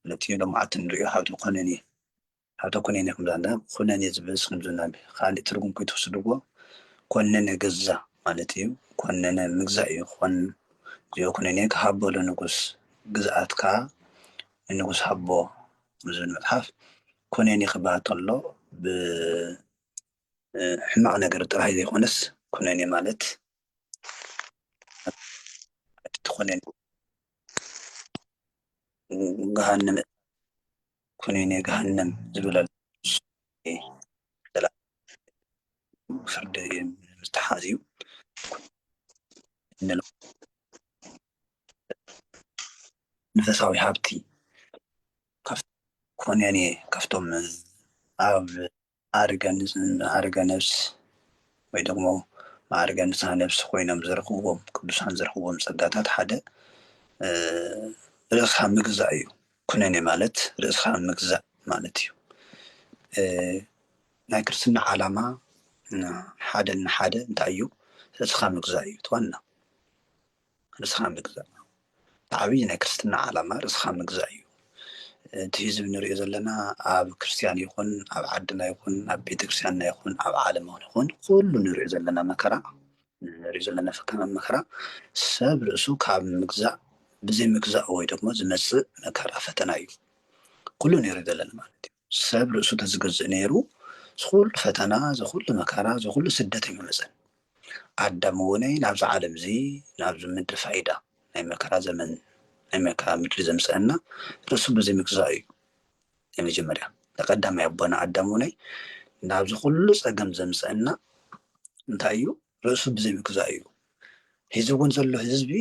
ነቲ ሎምዓንቲ ንርእዮ ሃብቲ ኹነኔ፣ ሃብተ ኩነኔ ከም ዝብላ እንዳ ኹነኔ ዝብል ስም ዝብላ እምቢ ኻሊእ ትርጉም ከይትውስድዎ ኮነነ ገዛ ማለት እዩ ኮነነ ምግዛእ እዩ ኾን እግዚኦ ኩነኔ ክሃቦ ለንጉስ ግዝኣት ከኣ ንንጉስ ሃቦ ኣብ ዝብል መጽሓፍ ኩነኔ ክበሃል ተሎ ብ ሕማቅ ነገር ጥራይ ዘይኮነስ ኩነኔ ማለት እቲ ኩነኔ ገሃነመ እሳት ኩነኔ ገሃነም ዝብል ኣሎ ፍርዲ ምስ ተሓዝዩ መንፈሳዊ ሃብቲ ኩነኔ ካብቶም ኣብ መዓርገ ንጽህና፣ መዓርገ ነፍስ ወይ ደግሞ መዓርገ ንጽሃ ነፍስ ኮይኖም ዝረኽብዎም ቅዱሳን ዝረኽብዎም ጸጋታት ሓደ ርእስኻ ምግዛእ እዩ። ኩነኔ ማለት ርእስኻ ምግዛእ ማለት እዩ። ናይ ክርስትና ዓላማ ሓደ ንሓደ እንታይ እዩ? ርእስኻ ምግዛእ እዩ እቲ ዋና። ርእስኻ ምግዛእ እቲ ዓብዪ ናይ ክርስትና ዓላማ ርእስኻ ምግዛእ እዩ። እቲ ህዝቢ ንሪኦ ዘለና ኣብ ክርስትያን ይኹን ኣብ ዓድና ይኹን ኣብ ቤተክርስትያንና ይኹን ኣብ ዓለም ይኹን ኩሉ ንሪኦ ዘለና መከራ ንሪኦ ዘለና ፈተና መከራ ሰብ ርእሱ ካብ ምግዛእ ብዘይ ምግዛእ ወይ ደግሞ ዝመፅእ መከራ ፈተና እዩ ኩሉ ንሪኦ ዘለና ማለት እዩ። ሰብ ርእሱ ተዝገዝእ ነይሩ ዝኹሉ ፈተና ዝኹሉ መከራ ዝኹሉ ስደት ኣይምመጸን ኣዳም እውነይ ናብዛ ዓለም እዚ ናብዚ ምድሪ ፋይዳ ናይ መከራ ዘመን ናይ መከራ ምድሪ ዘምጸእና ርእሱ ብዘይምግዛኡ እዩ ናይ መጀመርያ ተቀዳማይ ኣቦና ኣዳም እውነይ ናብዚ ኩሉ ጸገም ዘምጸእና እንታይ እዩ ርእሱ ብዘይምግዛኡ እዩ ሒዚ እውን ዘሎ ህዝቢ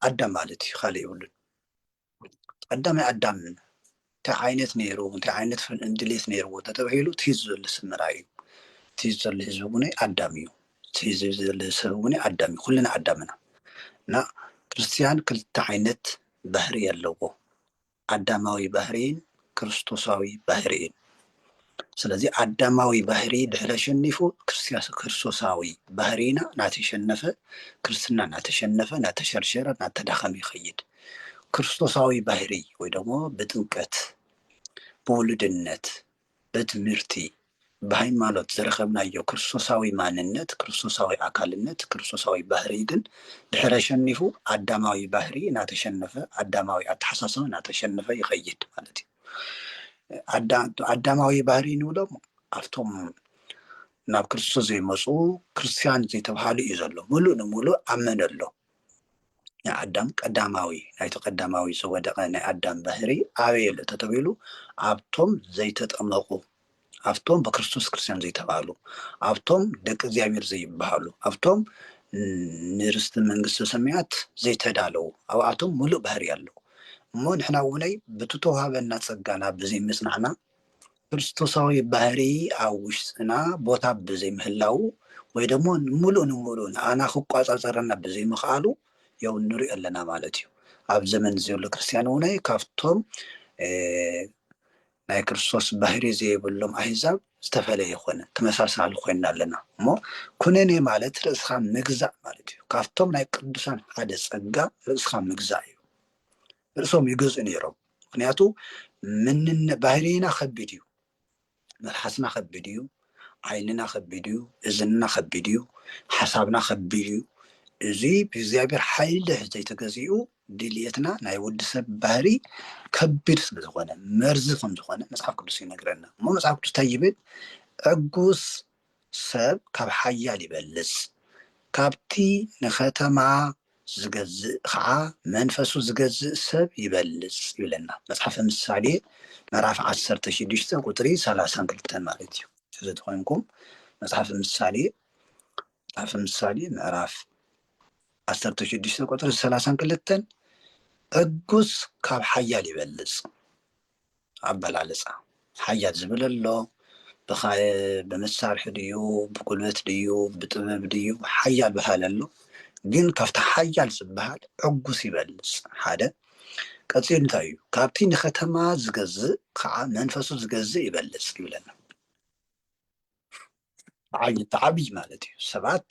ኣዳም ማለት እዩ ካልእ የብሉን ቀዳማይ ኣዳም እንታይ ዓይነት ነይሩ እንታይ ዓይነት ድሌት ነይርዎ ተተባሂሉ እቲ ህዝቢ ዘሎ ሰብ ምርኣይ እዩ እቲ ዘሎ ህዝቢ እውን ኣዳም እዩ እቲ ህዝቢ ዘሎ ሰብ እውን ኣዳም እዩ ኩልና ኣዳም ኢና እና ክርስትያን ክልተ ዓይነት ባህሪ ኣለዎ ኣዳማዊ ባህሪን ክርስቶሳዊ ባህሪ እዩ። ስለዚ ኣዳማዊ ባህሪ ድሕሪ ኣሸኒፉ ክርስቶሳዊ ባህሪና ናተሸነፈ ክርስትና ናተሸነፈ ናተሸርሸረ ናተዳኸመ ይኸይድ። ክርስቶሳዊ ባህሪ ወይ ደሞ ብጥምቀት ብውሉድነት በትምህርቲ ብሃይማኖት ዝረኸብናዮ ክርስቶሳዊ ማንነት፣ ክርስቶሳዊ ኣካልነት፣ ክርስቶሳዊ ባህርይ ግን ድሕር ኣሸኒፉ ኣዳማዊ ባህርይ እናተሸነፈ፣ ኣዳማዊ ኣተሓሳስባ እናተሸነፈ ይኸይድ ማለት እዩ። ኣዳማዊ ባህርይ ንብሎም ኣብቶም ናብ ክርስቶስ ዘይመፁ ክርስትያን ዘይተብሃሉ እዩ ዘሎ። ምሉእ ንምሉእ ኣመነ ኣሎ ናይ ኣዳም ቀዳማዊ ናይቲ ቀዳማዊ ዝወደቐ ናይ ኣዳም ባህሪ ኣበይ ኣሎ ተተብሂሉ ኣብቶም ዘይተጠመቑ ኣብቶም በክርስቶስ ክርስቲያን ዘይተባህሉ ኣብቶም ደቂ እግዚኣብሔር ዘይበሃሉ ኣብቶም ንርስቲ መንግስተ ሰማያት ዘይተዳለዉ ኣብኣቶም ሙሉእ ባህሪ ኣለዉ እሞ ንሕና እውነይ ብቲ ተዋህበና ጸጋና ብዘይምጽናዕና ክርስቶሳዊ ባህሪ ኣብ ውሽጥና ቦታ ብዘይምህላዉ ወይ ደሞ ሙሉእ ንሙሉእ ንኣና ክቋጻጸረና ብዘይምኽኣሉ ያው ንሪኦ ኣለና ማለት እዩ። ኣብ ዘመን ዘሎ ክርስትያን እውን ካብቶም ናይ ክርስቶስ ባህሪ ዘይብሎም ኣህዛብ ዝተፈለየ ይኮነ ተመሳሳሊ ኮይና ኣለና እሞ ኩነኔ ማለት ርእስኻ ምግዛእ ማለት እዩ ካብቶም ናይ ቅዱሳን ሓደ ጸጋ ርእስኻ ምግዛእ እዩ ርእሶም ይገዝኡ ነይሮም ምክንያቱ ምንነ ባህርይና ከቢድ እዩ መልሓስና ከቢድ እዩ ዓይንና ከቢድ እዩ እዝንና ከቢድ እዩ ሓሳብና ከቢድ እዩ እዚ ብእግዚኣብሔር ሓይሊ ዘይተገዚኡ ድልየትና ናይ ወዲ ሰብ ባህሪ ከቢድ ስለ ዝኾነ መርዚ ከም ዝኾነ መፅሓፍ ቅዱስ ይነግረና እሞ መፅሓፍ ቅዱስ እንታይ ይብል ዕጉስ ሰብ ካብ ሓያል ይበልጽ፣ ካብቲ ንኸተማ ዚገዝእ ኸኣ መንፈሱ ዚገዝእ ሰብ ይበልጽ ይብለና። መጽሓፈ ምሳሌ ምዕራፍ ዓሰርተ ሽዱሽተ ቁጽሪ ሰላሳን ክልተን ማለት እዩ። እዚ ተኾይንኩም መጽሓፈ ምሳሌ መጽሓፈ ምሳሌ ምዕራፍ ዓሰርተ ሽዱሽተ ቁጽሪ ሰላሳን ክልተን ዕጉስ ካብ ሓያል ይበልጽ ኣበላልፃ ሓያል ዝብል ኣሎ ብመሳርሒ ድዩ ብጉልበት ድዩ ብጥበብ ድዩ ሓያል በሃሊ ኣሎ ግን ካብቲ ሓያል ዝበሃል ዕጉስ ይበልፅ ሓደ ቀፂሉ እንታይ እዩ ካብቲ ንከተማ ዝገዝእ ከዓ መንፈሱ ዝገዝእ ይበልፅ ይብለና ዓይነት ዓብይ ማለት እዩ ሰባት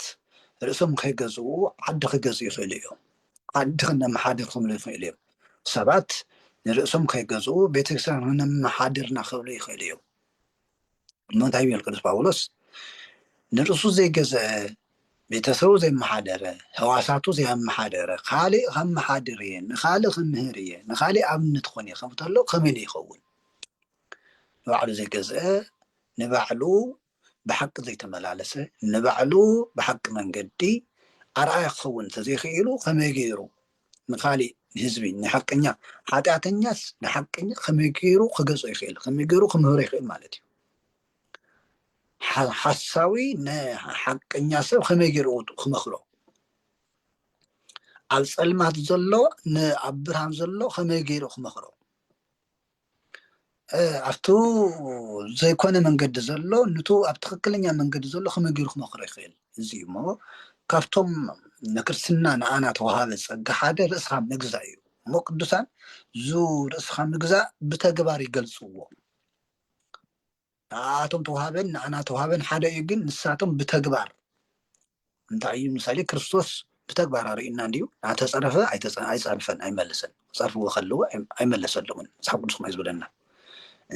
ርእሶም ከይገዝኡ ዓዲ ክገዝኡ ይኽእሉ እዮም ዓዲ ክነመሓድር ክብሉ ይኽእሉ እዮም ሰባት ንርእሶም ከይገዝኡ ቤተክርስትያን ክነመሓድርና ክብሉ ይኽእሉ እዮም እሞ እንታይ ይብል ቅዱስ ጳውሎስ ንርእሱ ዘይገዘአ ቤተሰቡ ዘይመሓደረ ህዋሳቱ ዘየመሓደረ ካሊእ ከመሓድር እየ ንካሊእ ክምህር እየ ንካሊእ ኣብነት ኾን እየ ከምተሎ ከመይ ይኸውን ንባዕሉ ዘይገዝአ ንባዕሉ ብሓቂ ዘይተመላለሰ ንባዕሉ ብሓቂ መንገዲ ኣርኣያ ክኸውን እንተዘይክኢሉ ከመይ ገይሩ ንካሊእ ንህዝቢ ንሓቀኛ ሓጢኣተኛስ ንሓቀኛ ከመይ ገይሩ ክገዝኦ ይኽእል ከመይ ገይሩ ክምህሮ ይኽእል ማለት እዩ ሓሳዊ ንሓቀኛ ሰብ ከመይ ገይሩ ክመክሮ ኣብ ፀልማት ዘሎ ንኣብ ብርሃን ዘሎ ከመይ ገይሩ ክመክሮ ኣብቱ ዘይኮነ መንገዲ ዘሎ ንቱ ኣብ ትክክለኛ መንገዲ ዘሎ ከመይ ገይሩ ክመክሮ ይክእል እዚ እዩ እሞ ካብቶም ንክርስትና ንኣና ተዋሃበ ፀጋ ሓደ ርእስካ ምግዛእ እዩ እሞ ቅዱሳን ዙ ርእስካ ምግዛእ ብተግባር ይገልፅዎ ንኣኣቶም ተውሃበን ንኣና ተውሃበን ሓደ እዩ ግን ንሳቶም ብተግባር እንታይ እዩ ምሳሌ ክርስቶስ ብተግባር ኣርእዩና እንዲዩ ናተፀረፈ ኣይፀርፈን ኣይመለሰን ክፀርፍዎ ከለዎ ኣይመለሰሎምን መፅሓፍ ቅዱስ ከማይ ዝብለና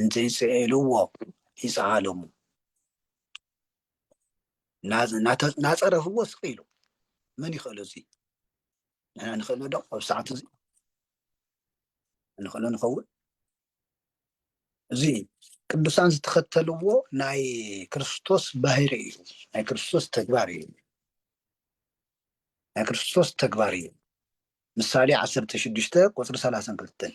እንተይፅኤልዎ ይፀዓሎሙ ናፀረፍዎ ስቅ ኢሉ መን ይኽእሎ እዚ ንሕና ንኽእሎ ዶ ኣብ ሰዓት እዚ ንኽእሎ ንኸውን እዚ ቅዱሳን ዝተኸተልዎ ናይ ክርስቶስ ባህሪ እዩ ናይ ክርስቶስ ተግባር እዩ ናይ ክርስቶስ ተግባር እዩ ምሳሌ ዓሰርተ ሽዱሽተ ቁፅሪ ሰላሳን ክልተን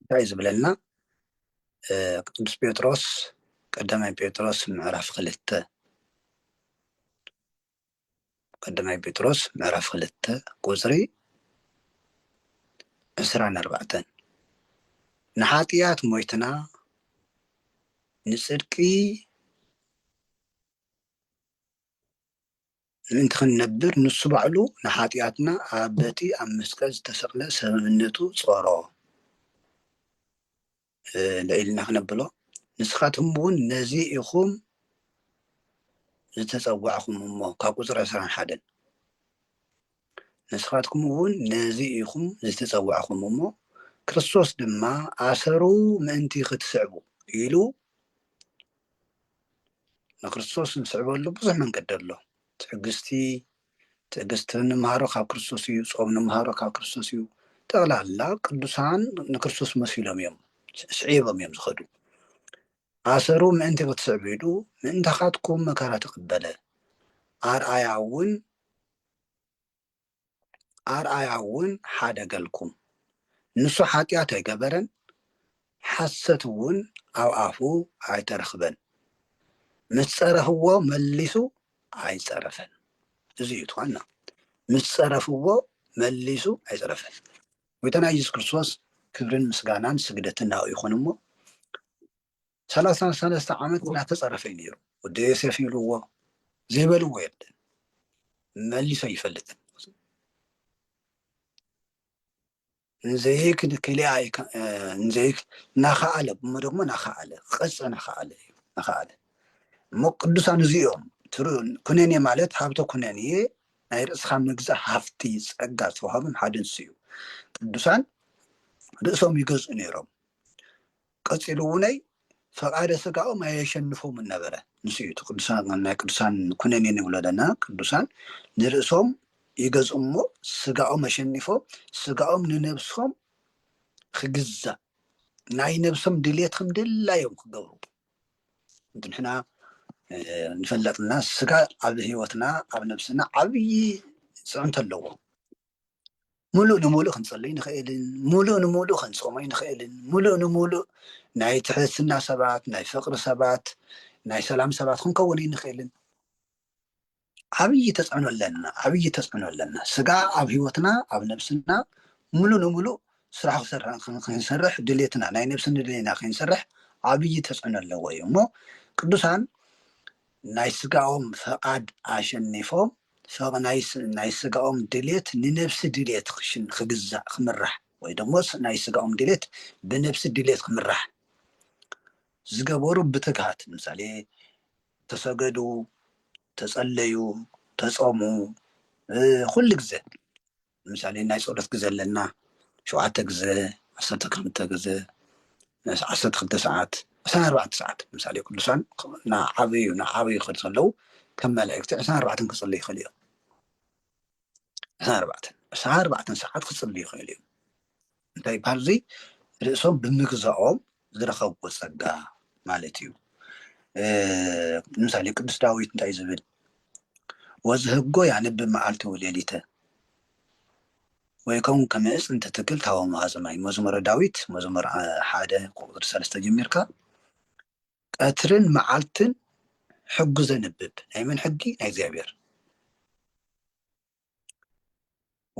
እንታይ ዝብለና ቅዱስ ጴጥሮስ ቀዳማይ ጴጥሮስ ምዕራፍ ክልተ ቀዳማይ ጴጥሮስ ምዕራፍ ክልተ ቁፅሪ ዕስራን ኣርባዕተን ንሓጢኣት ሞይትና ንፅድቂ ምእንቲ ክንነብር ንሱ ባዕሉ ንሓጢኣትና ኣብ በቲ ኣብ መስቀል ዝተሰቕለ ሰብእነቱ ጾሮ። ልዒልና ክነብሎ ንስኻትኩም እውን ነዚ ኢኹም ዝተጸዋዕኹም እሞ ካብ ቁጽሪ ዕስራን ሓደን ንስኻትኩም እውን ነዚ ኢኹም ዝተጸዋዕኹም እሞ ክርስቶስ ድማ ኣሰሩ ምእንቲ ክትስዕቡ ኢሉ ንክርስቶስ ንስዕበሉ ብዙሕ መንገዲ ኣሎ። ትዕግስቲ ትዕግስቲ እንምሃሮ ካብ ክርስቶስ እዩ፣ ጾም እንምሃሮ ካብ ክርስቶስ እዩ። ጠቕላላ ቅዱሳን ንክርስቶስ መሲሎም እዮም ስዒቦም እዮም ዝኸዱ። ኣሰሩ ምእንቲ ክትስዕቡ ኢሉ ምእንታኻትኩም መከራ ተቐበለ። ኣርኣያ እውን ኣርኣያ እውን ሓደ ገልኩም፣ ንሱ ሓጢኣት ኣይገበረን፣ ሓሰት እውን ኣብ ኣፉ ኣይተረኽበን፣ ምስ ጸረፍዎ መሊሱ ኣይጸረፈን። እዚ እዩ እቲ ዋና፣ ምስ ጸረፍዎ መሊሱ ኣይጸረፈን። ጐይታና ኢየሱስ ክርስቶስ ክብርን ምስጋናን ስግደትን ናኡ ይኹን እሞ ሰላሳን ሰለስተ ዓመት እናተፀረፈ እዩ ነይሩ ወዲ ዮሴፍ ይብልዎ ዘይበልዎ የለን መሊሶ ይፈልጥን ንዘይክ ክልኣ ንዘይክ ናኸኣለ እሞ ደግሞ ናኸኣለ ክቐፀ ናኸኣለ እዩ ናኸኣለ እሞ ቅዱሳን እዚኦም ኩነኔ ማለት ሃብተ ኩነኔ ናይ ርእስኻ ምግዛእ ሃፍቲ ፀጋ ዝተዋሃቦም ሓደ ንሱ እዩ ቅዱሳን ርእሶም ይገዝኡ ነይሮም ቀጺሉ እውነይ ፈቃደ ስጋኦም ኣየሸንፎምን ነበረ ንሱ እዩ እቲ ቅዱሳን ናይ ቅዱሳን ኩነኔ ንብሎ ዘለና ቅዱሳን ንርእሶም ይገዝኡም እሞ ስጋኦም ኣሸኒፎም ስጋኦም ንነብሶም ክግዛእ ናይ ነብሶም ድሌት ከም ድላዮም ክገብሩ ንሕና ንፈለጥና ስጋ ኣብ ህይወትና ኣብ ነብስና ዓብዪ ፅዕንቶ ኣለዎ ሙሉእ ንሙሉእ ክንፅልይ ንኽእልን ሙሉእ ንሙሉእ ክንፆምይ ንኽእልን ሙሉእ ንሙሉእ ናይ ትሕትና ሰባት ናይ ፍቅሪ ሰባት ናይ ሰላም ሰባት ክንከውን ኣይንኽእልን ዓብዪ ተፅዕኖ ኣለና ዓብዪ ተፅዕኖ ኣለና ስጋ ኣብ ሂወትና ኣብ ነብስና ሙሉእ ንሙሉእ ስራሕ ክንሰርሕ ድሌትና ናይ ነብሲ ንድሌና ክንሰርሕ ዓብዪ ተፅዕኖ ኣለዎ እዩ እሞ ቅዱሳን ናይ ስጋኦም ፍቃድ ኣሸኒፎም ሰብ ናይ ስጋኦም ድሌት ንነብሲ ድሌት ክግዛእ ክምራሕ ወይ ደሞ ናይ ስጋኦም ድሌት ብነብሲ ድሌት ክምራሕ ዝገበሩ ብትግሃት ምሳሌ ተሰገዱ ተጸለዩ ተጾሙ ኹሉ ግዘ ንምሳሌ ናይ ፀሎት ግዘ ኣለና ሸውዓተ ግዘ ዓሰርተ ክልተ ግዘ ዓሰርተ ክልተ ሰዓት ዕስራን ኣርባዕተን ሰዓት ንምሳሌ ቅዱሳን እናዓበዩ እናዓበዩ ክኸዱ ከለው ከም መላእክቲ ዕስራን ኣርባዕተን ክፅልዩ ይኽእሉ እዮም ዕስራን ኣርባዕተን ዕስራን ኣርባዕተን ሰዓት ክፅልዩ ይኽእሉ እዮም እንታይ ይበሃል እዙይ ርእሶም ብምግዛኦም ዝረኸብዎ ጸጋ ማለት እዩ ንምሳሌ ቅዱስ ዳዊት እንታይ ዝብል ወዝህጎ ያንብ መዓልቲ ውሌሊተ ወይ ከምኡ ከመእስ እንትትክል ታወ መሃዘማይ መዝሙረ ዳዊት መዝሙር ሓደ ቁጥሪ ሰለስተ ጀሚርካ ቀትርን መዓልትን ሕጉ ዘንብብ ናይ መን ሕጊ ናይ እግዚኣብሔር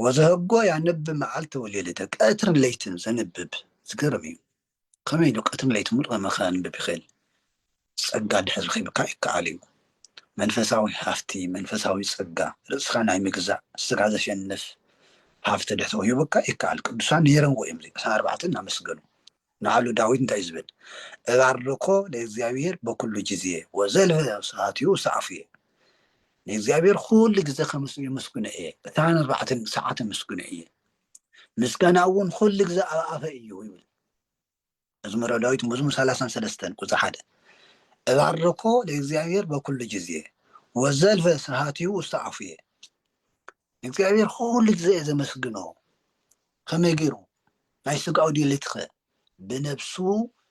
ወዘህጎ ያንብ መዓልቲ ወሌሊተ ቀትርን ለይትን ዘንብብ ዝገርም እዩ ከመይ ኢሉ ቀትርን ለይትን ሙሉእ ከመ ከንብብ ይኽእል ጸጋ ድሕር ረኺብካ ይከኣል እዩ መንፈሳዊ ሃፍቲ መንፈሳዊ ጸጋ ርእስኻ ናይ ምግዛእ ስጋ ዘሸንፍ ሃፍቲ ድሕር ተውሂቡካ ይከኣል ቅዱሳን ነይረምዎ እዮም ዕስራን ኣርባዕተን እናመስገኑ ንኣሉ ዳዊት እንታይ እዩ ዝብል? እባርኮ ለእግዚኣብሔር በኵሉ ጊዜ ወዘልፈ ስብሐቲሁ ሰአፉየ፣ ንእግዚኣብሔር ዅሉ ግዜ ኸምስሉ የመስግኖ እየ፣ ዕስራን ኣርባዕተን ሰዓት ኣመስግኖ እየ፣ ምስጋና እውን ዅሉ ግዜ ኣብ ኣፈይ እዩ ይብል። መዝሙረ ዳዊት መዝሙር ሰላሳን ሰለስተን ቁፅሪ ሓደ እባርኮ ለእግዚኣብሔር በኵሉ ጊዜ ወዘልፈ ስብሐቲሁ ውስተ አፉየ፣ ንእግዚኣብሔር ኹሉ ግዜ እየ ዘመስግኖ። ኸመይ ገይሩ? ናይ ሥጋኡ ድሌትኸ? ብነብሱ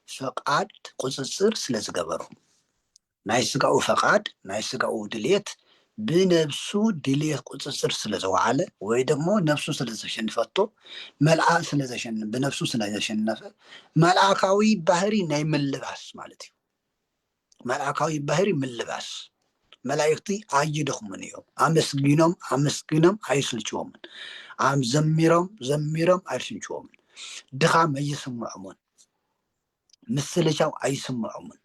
ፈቓድ ቁጽጽር ስለ ዝገበሮ። ናይ ሥጋኡ ፈቓድ፣ ናይ ሥጋኡ ድሌት፣ ብነብሱ ድሌት ቁጽጽር ስለ ዘወዓለ ወይ ደግሞ ነብሱ ስለ ዘሸንፈቶ መልኣ ስለ ዘሸን ብነብሱ ስለ ዘሸነፈ መልኣካዊ ባህሪ ናይ ምልባስ ማለት እዩ። መልኣካዊ ባህሪ ምልባስ መላእኽቲ ኣይደኽሙን እዮም። ኣመስጊኖም ኣመስጊኖም ኣይስልችዎምን። ዘሚሮም ዘሚሮም ኣይስልችዎምን። ድኻም ኣይስምዖምን። ምስልቻው ኣይስምዖምን።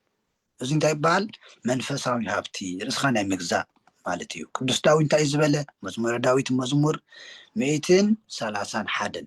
እዚ እንታይ ይበሃል? መንፈሳዊ ሃብቲ ርእስኻ ናይ ምግዛእ ማለት እዩ። ቅዱስ ዳዊት እንታይ እዩ ዝበለ? መዝሙረ ዳዊት መዝሙር ሚእትን ሰላሳን ሓደን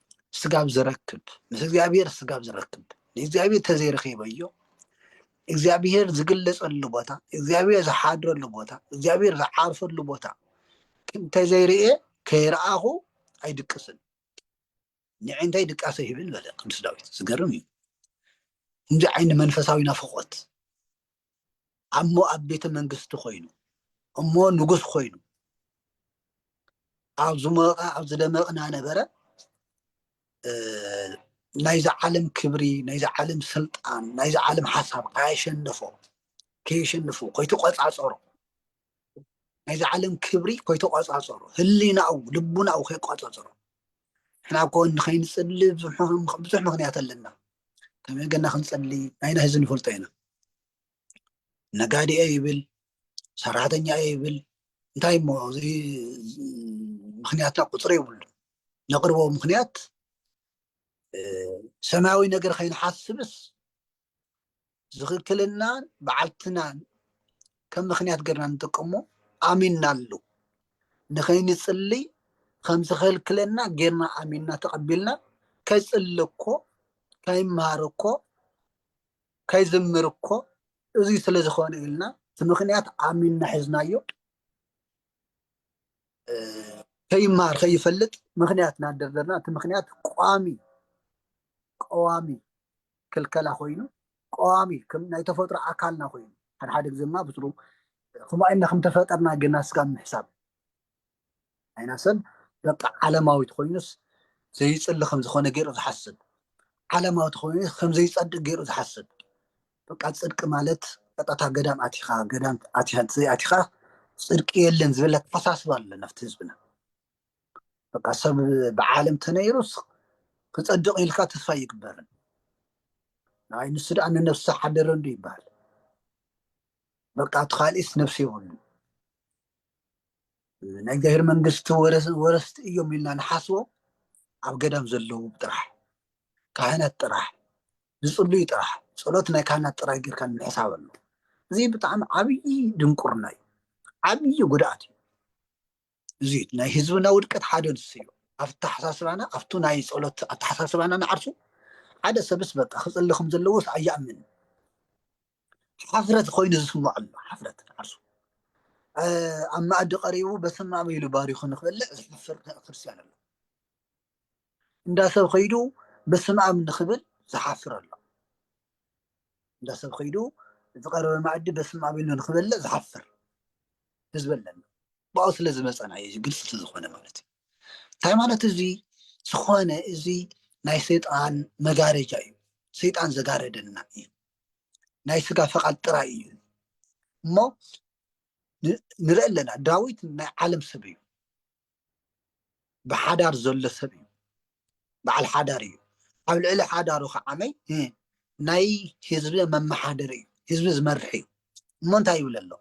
ስጋብ ዝረክብ ምስ እግዚኣብሔር ስጋብ ዝረክብ ንእግዚኣብሔር ተዘይረኺበዮ እግዚኣብሔር ዝግለፀሉ ቦታ እግዚኣብሔር ዝሓድረሉ ቦታ እግዚኣብሔር ዝዓርፈሉ ቦታ እንተዘይርኤ ከይረኣኹ ኣይድቅስን ንዕንተይ ድቃሰ ይብል በለ ቅዱስ ዳዊት ዝገርም እዩ እንዚ ዓይኒ መንፈሳዊ ናፍቆት ኣብ ሞኣብ ቤተ መንግስቲ ኮይኑ እሞ ንጉስ ኮይኑ ኣብ ዝሞቐ ኣብ ዝደመቕና ነበረ ናይዚ ዓለም ክብሪ ናይዚ ዓለም ስልጣን ናይዚ ዓለም ሓሳብ ከየሸንፎ ከየሸንፎ ኮይተቆፃፀሮ ናይዚ ዓለም ክብሪ ኮይተቆፃፀሮ ህሊናኡ ልቡናኡ ከይቆፃፀሮ ንሕና እኮ ንከይንፅሊ ብዙሕ ምክንያት ኣለና ከመይ ገና ክንፅሊ ናይና ህዚ ንፈልጦ ኢና ነጋዴ ይብል ሰራሕተኛ ይብል እንታይ እሞ እዚ ምክንያታ ቁፅሪ የብሉ ነቅርቦ ምክንያት ሰማያዊ ነገር ከይንሓስብስ ዝክክልናን በዓልትናን ከም ምክንያት ገርና ንጥቀሞ ኣሚናሉ ንከይንፅልይ ከም ዝከልክለና ገርና ኣሚና ተቀቢልና ከይፅሊ እኮ ከይመሃር እኮ ከይዝምር እኮ እዙይ ስለ ዝኾነ ኢልና እቲ ምክንያት ዓሚና ሒዝናዮ ከይመሃር ከይፈልጥ ምክንያት እናደርደርና እቲ ምክንያት ቋሚ ቀዋሚ ክልከላ ኮይኑ ቀዋሚ ናይ ተፈጥሮ ኣካልና ኮይኑ ሓድሓደ ግዜ ድማ ብትሩ ከምኡ ኢልና ከምተፈጠርና ግና ስጋብ ምሕሳብ ኣይናሰን በቃ ዓለማዊት ኮይኑስ ዘይፅሊ ከም ዝኾነ ገይሩ ዝሓስብ ዓለማዊ ተኮይኑ ከም ዘይፀድቅ ገይሩ ዝሓስብ በቃ ፅድቂ ማለት ቀጥታ ገዳም ኣቲኻ ገዳም ኣቲኻ ዘይኣቲኻ ፅድቂ የለን ዝብል ኣተሓሳስባ ኣሎ ናብቲ ህዝብና በቃ ሰብ ብዓለም ተነይሩስ ክፀድቅ ኢልካ ተስፋ ይግበርን ንኣይ ንሱ ደኣ ንነብሲ ሓደረንዱ ይበሃል በቃ እቲ ካልእስ ነብሲ የብሉን ናይ እግዚኣብሔር መንግስቲ ወረስቲ እዮም ኢልና ንሓስቦም ኣብ ገዳም ዘለዉ ጥራሕ ካህናት ጥራሕ ዝፅልዩ ጥራሕ ፀሎት ናይ ካህናት ጥራሕ ጌርካ ንምሕሳብ ኣሎ እዚ ብጣዕሚ ዓብዪ ድንቁርና እዩ ዓብዪ ጉድኣት እዩ እዚ ናይ ህዝብና ውድቀት ሓደ ንሱ እዩ ኣብ ኣተሓሳስባና ኣብቱ ናይ ፀሎት ኣተሓሳስባና ንዓርሱ ሓደ ሰብስ በቃ ክፅሊ ከም ዘለዎስ ኣይኣምን ሓፍረት ኮይኑ ዝስምዖ ኣሎ ሓፍረት ዓርሱ ኣብ መኣዲ ቀሪቡ በስመ ኣብ ኢሉ ባሪኹ ንክበልዕ ዝሓፍር ክርስትያን ኣሎ እንዳ ሰብ ከይዱ በስመ ኣብ ንክብል ዝሓፍር ኣሎ እንዳ ሰብ ከይዱ ዝቀረበ መኣዲ በስመ ኣብ ኢሉ ንክበልዕ ዝሓፍር ህዝቢ ኣለና ብኣኡ ስለ ዝመፀና እዩ ግልፂ ስለዝኮነ ማለት እዩ እቲ ሃይማኖት እዚ ዝኾነ እዚ ናይ ሰይጣን መጋረጃ እዩ ሰይጣን ዘጋረደና እዩ ናይ ስጋ ፈቓድ ጥራይ እዩ እሞ ንርኢ ኣለና ዳዊት ናይ ዓለም ሰብ እዩ ብሓዳር ዘሎ ሰብ እዩ በዓል ሓዳር እዩ ኣብ ልዕሊ ሓዳሩ ከዓመይ ናይ ህዝቢ መመሓደሪ እዩ ህዝቢ ዝመርሕ እዩ እሞ እንታይ ይብል ኣሎ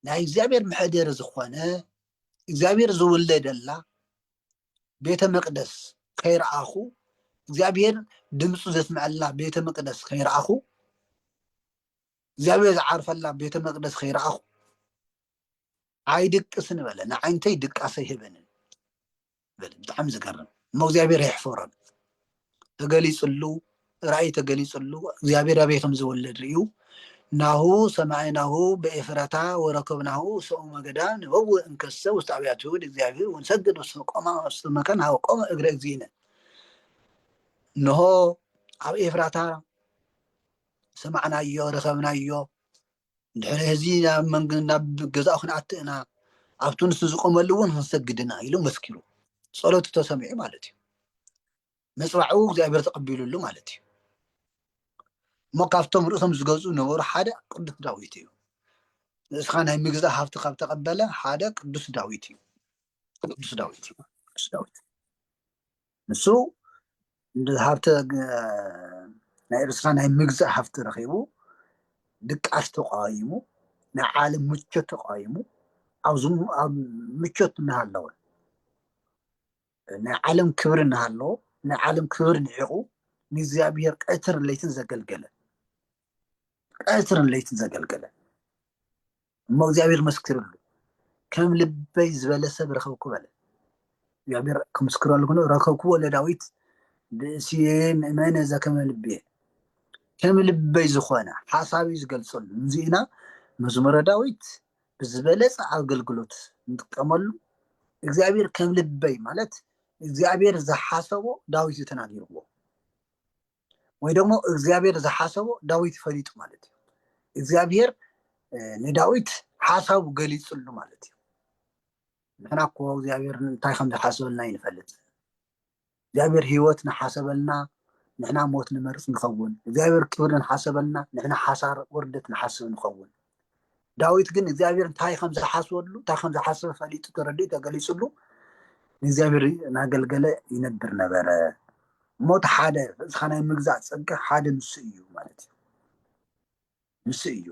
ናይ እግዚኣብሔር መሕደሪ ዝኾነ እግዚኣብሔር ዝውለደላ ቤተ መቅደስ ከይረኣኹ እግዚኣብሔር ድምፁ ዘስምዐላ ቤተ መቅደስ ከይረኣኹ እግዚኣብሔር ዝዓርፈላ ቤተ መቅደስ ከይረኣኹ ኣይድቅስን በለ ንዓይንተይ ድቃሰ ይህበንን በለ ብጣዕሚ ዝገርም እሞ እግዚኣብሔር የሕፈሮን ተገሊጽሉ ራእይ ተገሊጽሉ እግዚኣብሔር ኣበይ ከም ዝወለድ ርእዩ ናሁ ሰማዕናሁ በኤፍራታ ወረከብናሁ ሰኡመ ገዳም ንበውእ እንከሰ ውስተ ኣብያተ ይሁድ እግዚኣብሔር ወንሰግድ ውስተ ቆማ ውስተ መካን ሃበ ቆመ እግረ እግዚእነ እነሆ ኣብ ኤፍራታ ሰማዕናዮ ረከብናዮ ድሕሪ ህዚ ናብ መንግ ናብ ገዛኡ ክንኣቲ እና ኣብቲ ንሱ ዝቆመሉ እውን ክንሰግድ ኢና ኢሉ መስኪሩ ጸሎቱ ተሰሚዑ ማለት እዩ መፅባዕኡ እግዚኣብሔር ተቐቢሉሉ ማለት እዩ እሞ ካብቶም ርእሶም ዝገዙ ነበሩ ሓደ ቅዱስ ዳዊት እዩ ንእስኻ ናይ ምግዛእ ሃብቲ ካብ ተቐበለ ሓደ ቅዱስ ዳዊት እዩ ቅዱስ ዳዊት እዩ ቅዱስ ዳዊት ንሱ ሃብቲ ናይ ኤርትራ ናይ ምግዛእ ሃፍቲ ረኺቡ ድቃስ ተቃዊሙ ናይ ዓለም ምቾት ተቃዊሙ ኣብዚ ኣብ ምቾት እናሃለወ ናይ ዓለም ክብሪ እናሃለዎ ናይ ዓለም ክብሪ ንዒቑ ንእግዚኣብሔር ቀትር ለይትን ዘገልገለ ቀትርን ለይትን ዘገልገለ እሞ እግዚኣብሔር መስክርሉ ከም ልበይ ዝበለ ሰብ ረኸብኩ በለ እግዚኣብሔር ክምስክረሉ ግኖ ረከብክዎ ለዳዊት ብእስየ ምእመነ ዘከመ ልብየ ከም ልበይ ዝኾነ ሓሳቢ ዝገልፀሉ እዚኢና መዝሙረ ዳዊት ብዝበለፀ ኣገልግሎት ንጥቀመሉ እግዚኣብሔር ከም ልበይ ማለት እግዚኣብሔር ዝሓሰቦ ዳዊት እዩ ተናጊርዎ ወይ ደግሞ እግዚኣብሔር ዝሓሰቦ ዳዊት ፈሊጡ ማለት እዩ እግዚኣብሔር ንዳዊት ሓሳቡ ገሊፅሉ ማለት እዩ ንሕና እኮ እግዚኣብሔር እንታይ ከም ዝሓሰበልና ይንፈልጥ እግዚኣብሔር ህይወት ንሓሰበልና ንሕና ሞት ንመርፅ ንኸውን እግዚኣብሔር ክብሪ ንሓሰበልና ንሕና ሓሳር ውርደት ንሓስብ ንኸውን ዳዊት ግን እግዚኣብሔር እንታይ ከም ዝሓስበሉ እንታይ ከም ዝሓስበ ፈሊጡ ተረዲኡ ተገሊፅሉ ንእግዚኣብሔር እናገልገለ ይነብር ነበረ እሞ እቲ ሓደ እስኻ ናይ ምግዛእ ፀጋ ሓደ ንሱ እዩ ማለት እዩ ንሱ እዩ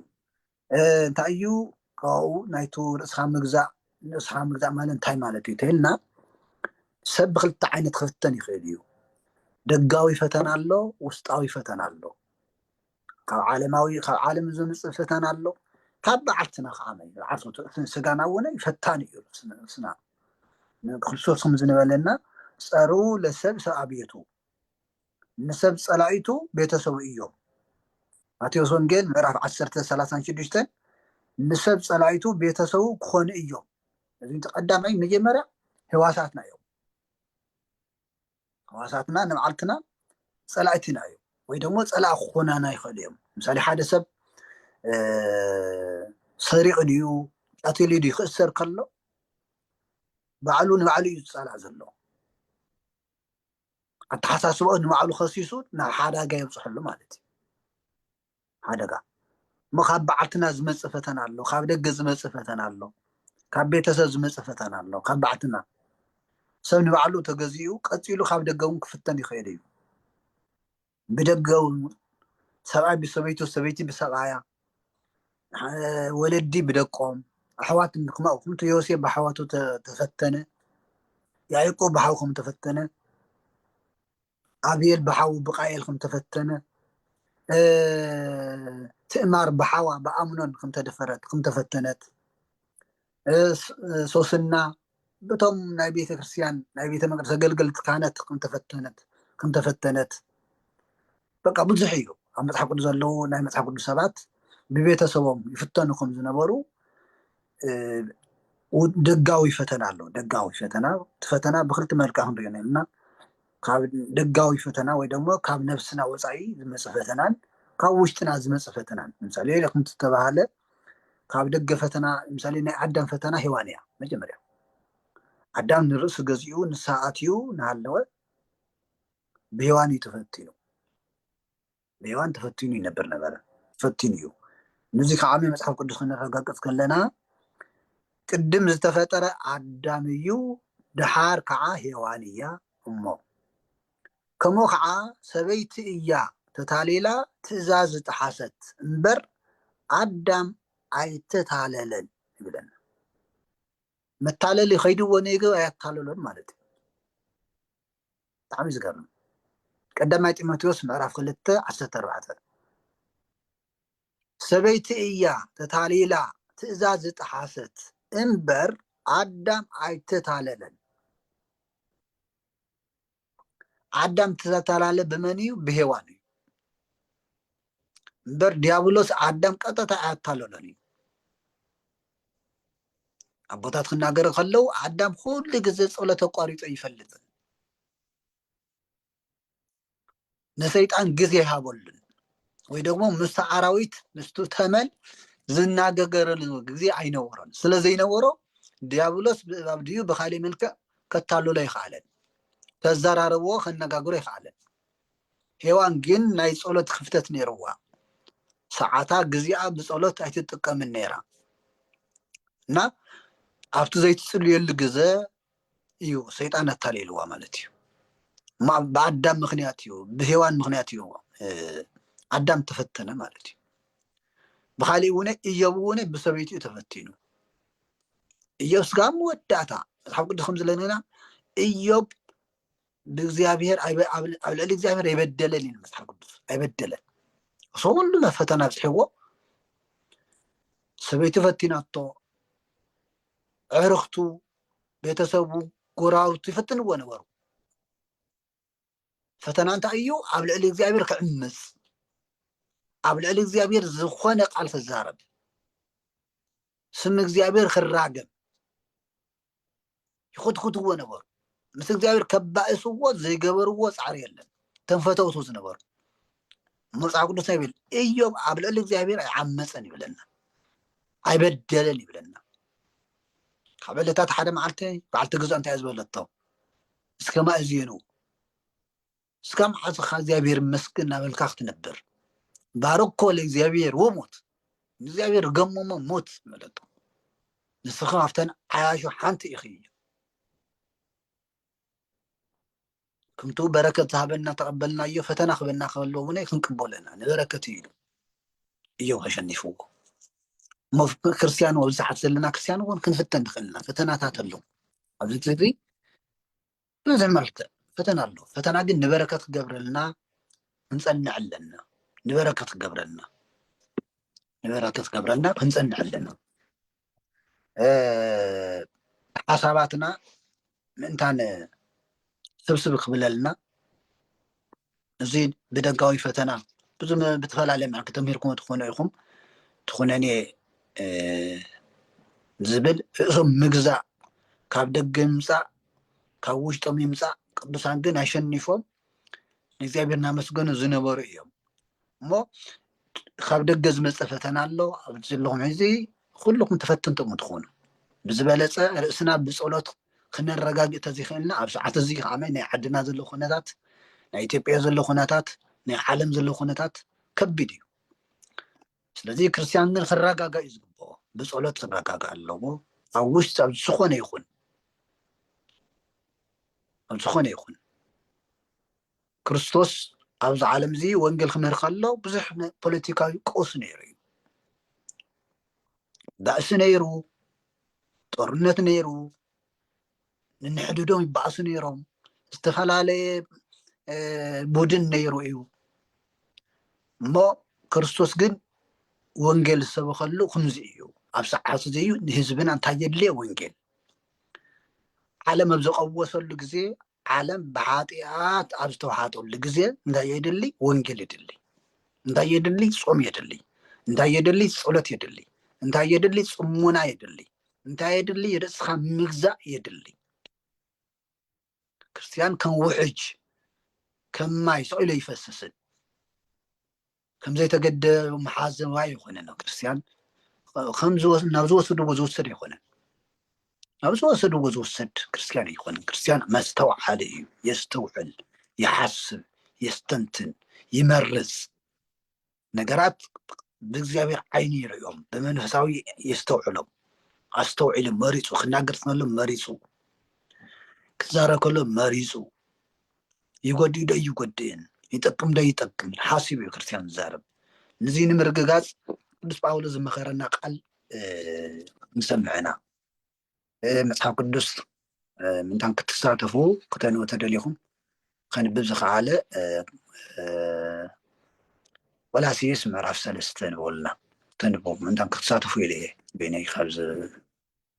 እንታይ እዩ ካብኡ ናይቱ ርእስኻ ምግዛእ ንርእስኻ ምግዛእ ማለት እንታይ ማለት እዩ ተይልና ሰብ ብክልተ ዓይነት ክፍተን ይኽእል እዩ ደጋዊ ፈተና ኣሎ ውስጣዊ ፈተና ኣሎ ካብ ዓለማዊ ካብ ዓለም ዝምፅእ ፈተና ኣሎ ካብ በዓልትና ከዓ ዓርሶት እቲ ስጋና እውን ፈታን እዩ ነብስና ክርስቶስ ከም ዝበለና ፀሩ ለሰብ ሰብ ኣቤቱ ንሰብ ፀላኢቱ ቤተሰቡ እዮም ማቴዎስ ወንጌል ምዕራፍ 1 36 ንሰብ ፀላኢቱ ቤተሰቡ ክኾኑ እዮም እዚ ቀዳማይ መጀመርያ ህዋሳትና እዮም ሕዋሳትና ንባዕልትና ፀላእትና እዮም ወይ ደሞ ፀላእ ክኾናና ይኽእሉ እዮም ምሳሌ ሓደ ሰብ ሰሪቕ ድዩ ቀትሊ ድዩ ክእሰር ከሎ ባዕሉ ንባዕሉ እዩ ዝፀላእ ዘሎ ኣተሓሳስባኡ ንባዕሉ ከሲሱ ናብ ሓዳጋ የብፅሐሉ ማለት እዩ ሓደጋ እሞ ካብ በዓልትና ዝመፅእ ፈተና ኣሎ፣ ካብ ደገ ዝመፅእ ፈተና ኣሎ፣ ካብ ቤተሰብ ዝመፅእ ፈተና ኣሎ፣ ካብ በዓልትና ሰብ ንባዕሉ ተገዚኡ ቀፂሉ ካብ ደገ እውን ክፍተን ይኽእል እዩ። ብደገ እውን ሰብኣይ ብሰበይቱ፣ ሰበይቲ ብሰብኣያ፣ ወለዲ ብደቆም፣ ኣሕዋት ከምኡ ከምቲ ዮሴፍ ብኣሕዋቱ ተፈተነ፣ ያዕቆብ ብሓው ከም ተፈተነ ኣብየል ብሓዉ ብቃኤል ከም ተፈተነ ትእማር ብሓዋ ብኣምኖን ከም ተደፈረት ከም ተፈተነት ሶስና ብቶም ናይ ቤተ ክርስትያን ናይ ቤተ መቅደስ ኣገልገልቲ ካህናት ከም ተፈተነት ከም ተፈተነት በቃ ብዙሕ እዩ ኣብ መፅሓፍ ቅዱስ ዘለዉ ናይ መፅሓፍ ቅዱስ ሰባት ብቤተሰቦም ይፍተኑ ከም ዝነበሩ ደጋዊ ፈተና ኣሎ ደጋዊ ፈተና እቲ ፈተና ብክልቲ መልክዕ ክንሪኦ ነልና ካብ ደጋዊ ፈተና ወይ ደሞ ካብ ነብስና ወጻኢ ዝመጽእ ፈተናን ካብ ውሽጥና ዝመጽእ ፈተናን ምሳሌ ከምቲ ዝተባህለ ካብ ደገ ፈተና ምሳሌ ናይ ኣዳም ፈተና ሔዋን እያ መጀመርያ ኣዳም ንርእሱ ገዚኡ ንሳ ኣትዩ እናሃለወ ብሔዋን እዩ ተፈቲኑ ብሔዋን ተፈቲኑ ይነብር ነበረ ፈቲኑ እዩ ንዙ ከዓ መፅሓፍ ቅዱስ ክነረጋግፅ ከለና ቅድም ዝተፈጠረ ኣዳም እዩ ድሓር ከዓ ሔዋን እያ እሞ ከምኡ ከዓ ሰበይቲ እያ ተታሊላ ትእዛዝ ዝጠሓሰት እምበር ኣዳም ኣይተታለለን ይብለና መታለሊ ከይድዎ ነይገብ ኣያታለሎን ማለት እዩ ብጣዕሚ ዝገርም ቀዳማይ ጢሞቴዎስ ምዕራፍ ክልተ ዓሰርተ ኣርባዕተ ሰበይቲ እያ ተታሊላ ትእዛዝ ዝጠሓሰት እምበር ኣዳም ኣይተታለለን ኣዳም ተተላለ ብመን እዩ ብሄዋን እዩ እምበር ዲያብሎስ ኣዳም ቀጥታ ኣያታለሎን እዩ ኣቦታት ክናገሩ ከለው ኣዳም ኩሉ ግዜ ጸሎት ኣቋሪጦ ይፈልጥ ንሰይጣን ግዜ ይሃበሉን ወይ ደግሞ ምስ ኣራዊት ምስቱ ተመን ዝናገገረሉ ግዜ ኣይነበሮን ስለ ዘይነበሮ ዲያብሎስ ብእባብ ድዩ ብካሊእ መልክዕ ከታልሎ ይኸኣለን ከዘራረብዎ ከነጋግሮ ይኸኣለን ሄዋን ግን ናይ ጸሎት ክፍተት ነይርዋ። ሰዓታ ግዜኣ ብጸሎት ኣይትጥቀምን ነይራ እና ኣብቲ ዘይትጽልየሉ ግዘ እዩ ሰይጣን ኣታሊልዋ ማለት እዩ። ብኣዳም ምክንያት እዩ ብሄዋን ምክንያት እዩ ኣዳም ተፈተነ ማለት እዩ ብካሊእ እውን እዮብ እውን ብሰበይቱ እዩ ተፈቲኑ እዮብ ስጋ መወዳእታ መፅሓፍ ቅዱስ ከም ዝለነና እዮብ ንእግዚኣብሔር ኣይበ- ኣብ ኣብ ልዕሊ እግዚኣብሔር ኣይበደለን እዩ መጽሓፍ ቅዱስ ኣይበደለን እሱ ኩሉ ፈተና ኣብፅሕዎ ሰበይቱ ፈቲናቶ ዕርኽቱ ቤተሰቡ ጎራውቱ ይፈትንዎ ነበሩ ፈተና እንታይ እዩ ኣብ ልዕሊ እግዚኣብሔር ክዕምፅ ኣብ ልዕሊ እግዚኣብሔር ዝኾነ ቃል ክዛረብ ስም እግዚኣብሔር ክራገም ይኹትኹትዎ ነበሩ ምስ እግዚኣብሔር ከባእስዎ ዘይገበርዎ ፃዕሪ የለን እቶም ፈተውቱ ዝነበሩ መፅሓፍ ቅዱስ ናይ ይብል እዮብ ኣብ ልዕሊ እግዚኣብሔር ኣይዓመፀን ይብለና ኣይበደለን ይብለና ካብ ዕለታት ሓደ መዓልቲ በዓልቲ ግዛእ እንታይ ዝበለቶ እስከ ማእዝኑ እስካ መሓዝኻ እግዚኣብሔር ይመስገን እናበልካ ክትነብር ባረኮ ለእግዚኣብሔር ወሞት ንእግዚኣብሔር ገሞሞ ሞት መለቶ ንስኻ ካብተን ዓያሹ ሓንቲ ኢኺ ከምቲ በረከት ዝሃበና ተቐበልናዮ ፈተና ክበና ከሎ እውን ክንቅበለና ንበረከት እዩ እዩ ከሸኒፍዎ እሞ ክርስትያን ኣብዝሓት ዘለና ክርስትያን እውን ክንፍተን ንኽእልና ፈተናታት ኣለዉ ኣብዚ እዚ ብብዙሕ መልክዕ ፈተና ኣሎ ፈተና ግን ንበረከት ክገብረልና ክንጸንዕ ኣለና ንበረከት ክገብረልና ንበረከት ክገብረልና ክንጸንዕ ኣለና ሓሳባትና ምእንታን ስብስብ ክብለልና እዚ ብደጋዊ ፈተና ብዝተፈላለየ መልክዕ ተምሂርኩሞ ትኾኑ ኢኹም ትኹነኔ ዝብል ርእሶም ምግዛእ ካብ ደገ ይምፃእ ካብ ውሽጦም ይምፃእ ቅዱሳን ግን ኣሸኒፎም ንእግዚኣብሔር እናመስገኑ ዝነበሩ እዮም እሞ ካብ ደገ ዝመፀ ፈተና ኣሎ ኣብዚ ዘለኹም ሕዚ ኩልኹም ተፈተንቲ እኹም ትኾኑ ብዝበለፀ ርእስና ብፀሎት ክነረጋግእ ተዘይክእልና ኣብ ሰዓት እዚ ከዓ ናይ ዓድና ዘሎ ኩነታት ናይ ኢትዮጵያ ዘሎ ኩነታት ናይ ዓለም ዘሎ ኩነታት ከቢድ እዩ ስለዚ ክርስትያን ግን ክረጋጋ እዩ ዝግብኦ ብፀሎት ክረጋጋ ኣለዎ ኣብ ውሽጢ ኣብ ዝኾነ ይኹን ኣብ ዝኾነ ይኹን ክርስቶስ ኣብዚ ዓለም እዚ ወንጌል ክምህር ከሎ ብዙሕ ፖለቲካዊ ቀውሲ ነይሩ እዩ ባእሲ ነይሩ ጦርነት ነይሩ ንንሕድዶም ይባእሱ ነይሮም ዝተፈላለየ ቡድን ነይሩ እዩ እሞ ክርስቶስ ግን ወንጌል ዝሰበከሉ ከምዚ እዩ ኣብ ሰዓት እዚ እዩ ንህዝብና እንታይ የድልየ ወንጌል ዓለም ኣብ ዘቀወሰሉ ግዜ ዓለም ብኃጢኣት ኣብ ዝተውሓጠሉ ጊዜ እንታይ የድሊ? ወንጌል የድሊ። እንታይ የድሊ? ጾም የድሊ። እንታይ የድሊ? ጸሎት የድሊ። እንታይ የድሊ? ጽሙና የድሊ። እንታይ የድሊ? ርእስኻ ምግዛእ የድሊ። ክርስትያን ከም ውሕጅ ከም ማይ ሰቂሎ ይፈስስን ከም ዘይተገደ መሓዘዊ ኣይኾነን ኣብ ክርስትያን ናብ ዝወሰድዎ ዝውሰድ ኣይኮነን ናብ ዝወሰድዎ ዝውሰድ ክርስትያን ኣይኮነን ክርስትያን መስተውዓሊ እዩ የስተውዕል ይሓስብ የስተንትን ይመርፅ ነገራት ብእግዚኣብሔር ዓይኒ ይርእዮም ብመንፈሳዊ የስተውዕሎም ኣስተውዒሉ መሪፁ ክናገር ከሎ መሪፁ ክዛረብ ከሎ መሪፁ ይጎድእ ዶ ይጎድእን ይጠቅም ዶ ይጠቅምን ሓሲቡ እዩ ክርስትያን ዝዛረብ ንዚ ንምርግጋፅ ቅዱስ ጳውሎስ ዝመኸረና ቃል ንሰምዕና መፅሓፍ ቅዱስ ምንታን ክትሳተፉ ክተንቡ ተደሊኹም ከንብብ ዝኸኣለ ቆላሲስ ምዕራፍ ሰለስተ ንበሉና ተንቡ ምንታን ክትሳተፉ ኢለ እየ ቤነይ ካብ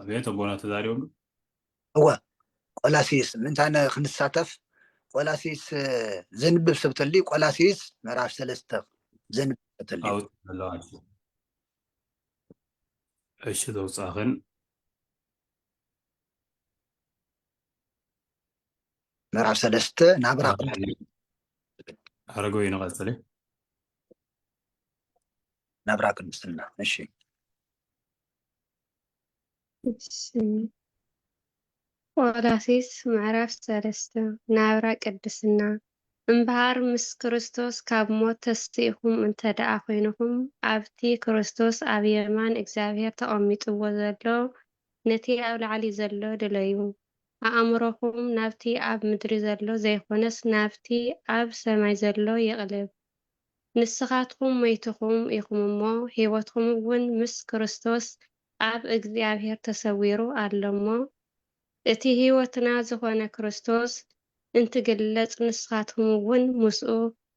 ኣቤት ኣቦና ተዛሪቦም እወ ቆላሲስ ምንታይ ክንሳተፍ ቆላሲስ ዘንብብ ሰብ ተልዩ ቆላሲስ ምዕራፍ ሰለስተ ዘንብብ ሰብ ተልዩ እሺ ዘውፃኽን ምዕራፍ ሰለስተ ናብራ ቅዱስ ኣረጋዊ ንቐፅል እዩ ናብራ ቅድስና እሺ ቆላሲስ ምዕራፍ ሰለስተ ናብራ ቅድስና እምበሃር ምስ ክርስቶስ ካብ ሞት ተስኢኹም እንተ ደኣ ዀይንኹም ኣብቲ ክርስቶስ ኣብ የማን እግዚኣብሄር ተቐሚጥዎ ዘሎ ነቲ ኣብ ላዕሊ ዘሎ ድለዩ። ኣእምሮኹም ናብቲ ኣብ ምድሪ ዘሎ ዘይኮነስ ናብቲ ኣብ ሰማይ ዘሎ ይቕልብ። ንስኻትኩም ሞይትኩም ኢኹም እሞ ሕይወትኩም እውን ምስ ክርስቶስ ኣብ እግዚኣብሔር ተሰዊሩ ኣሎ እሞ እቲ ሕይወትና ዝኾነ ክርስቶስ እንትግለጽ ንስኻትኩም እውን ምስኡ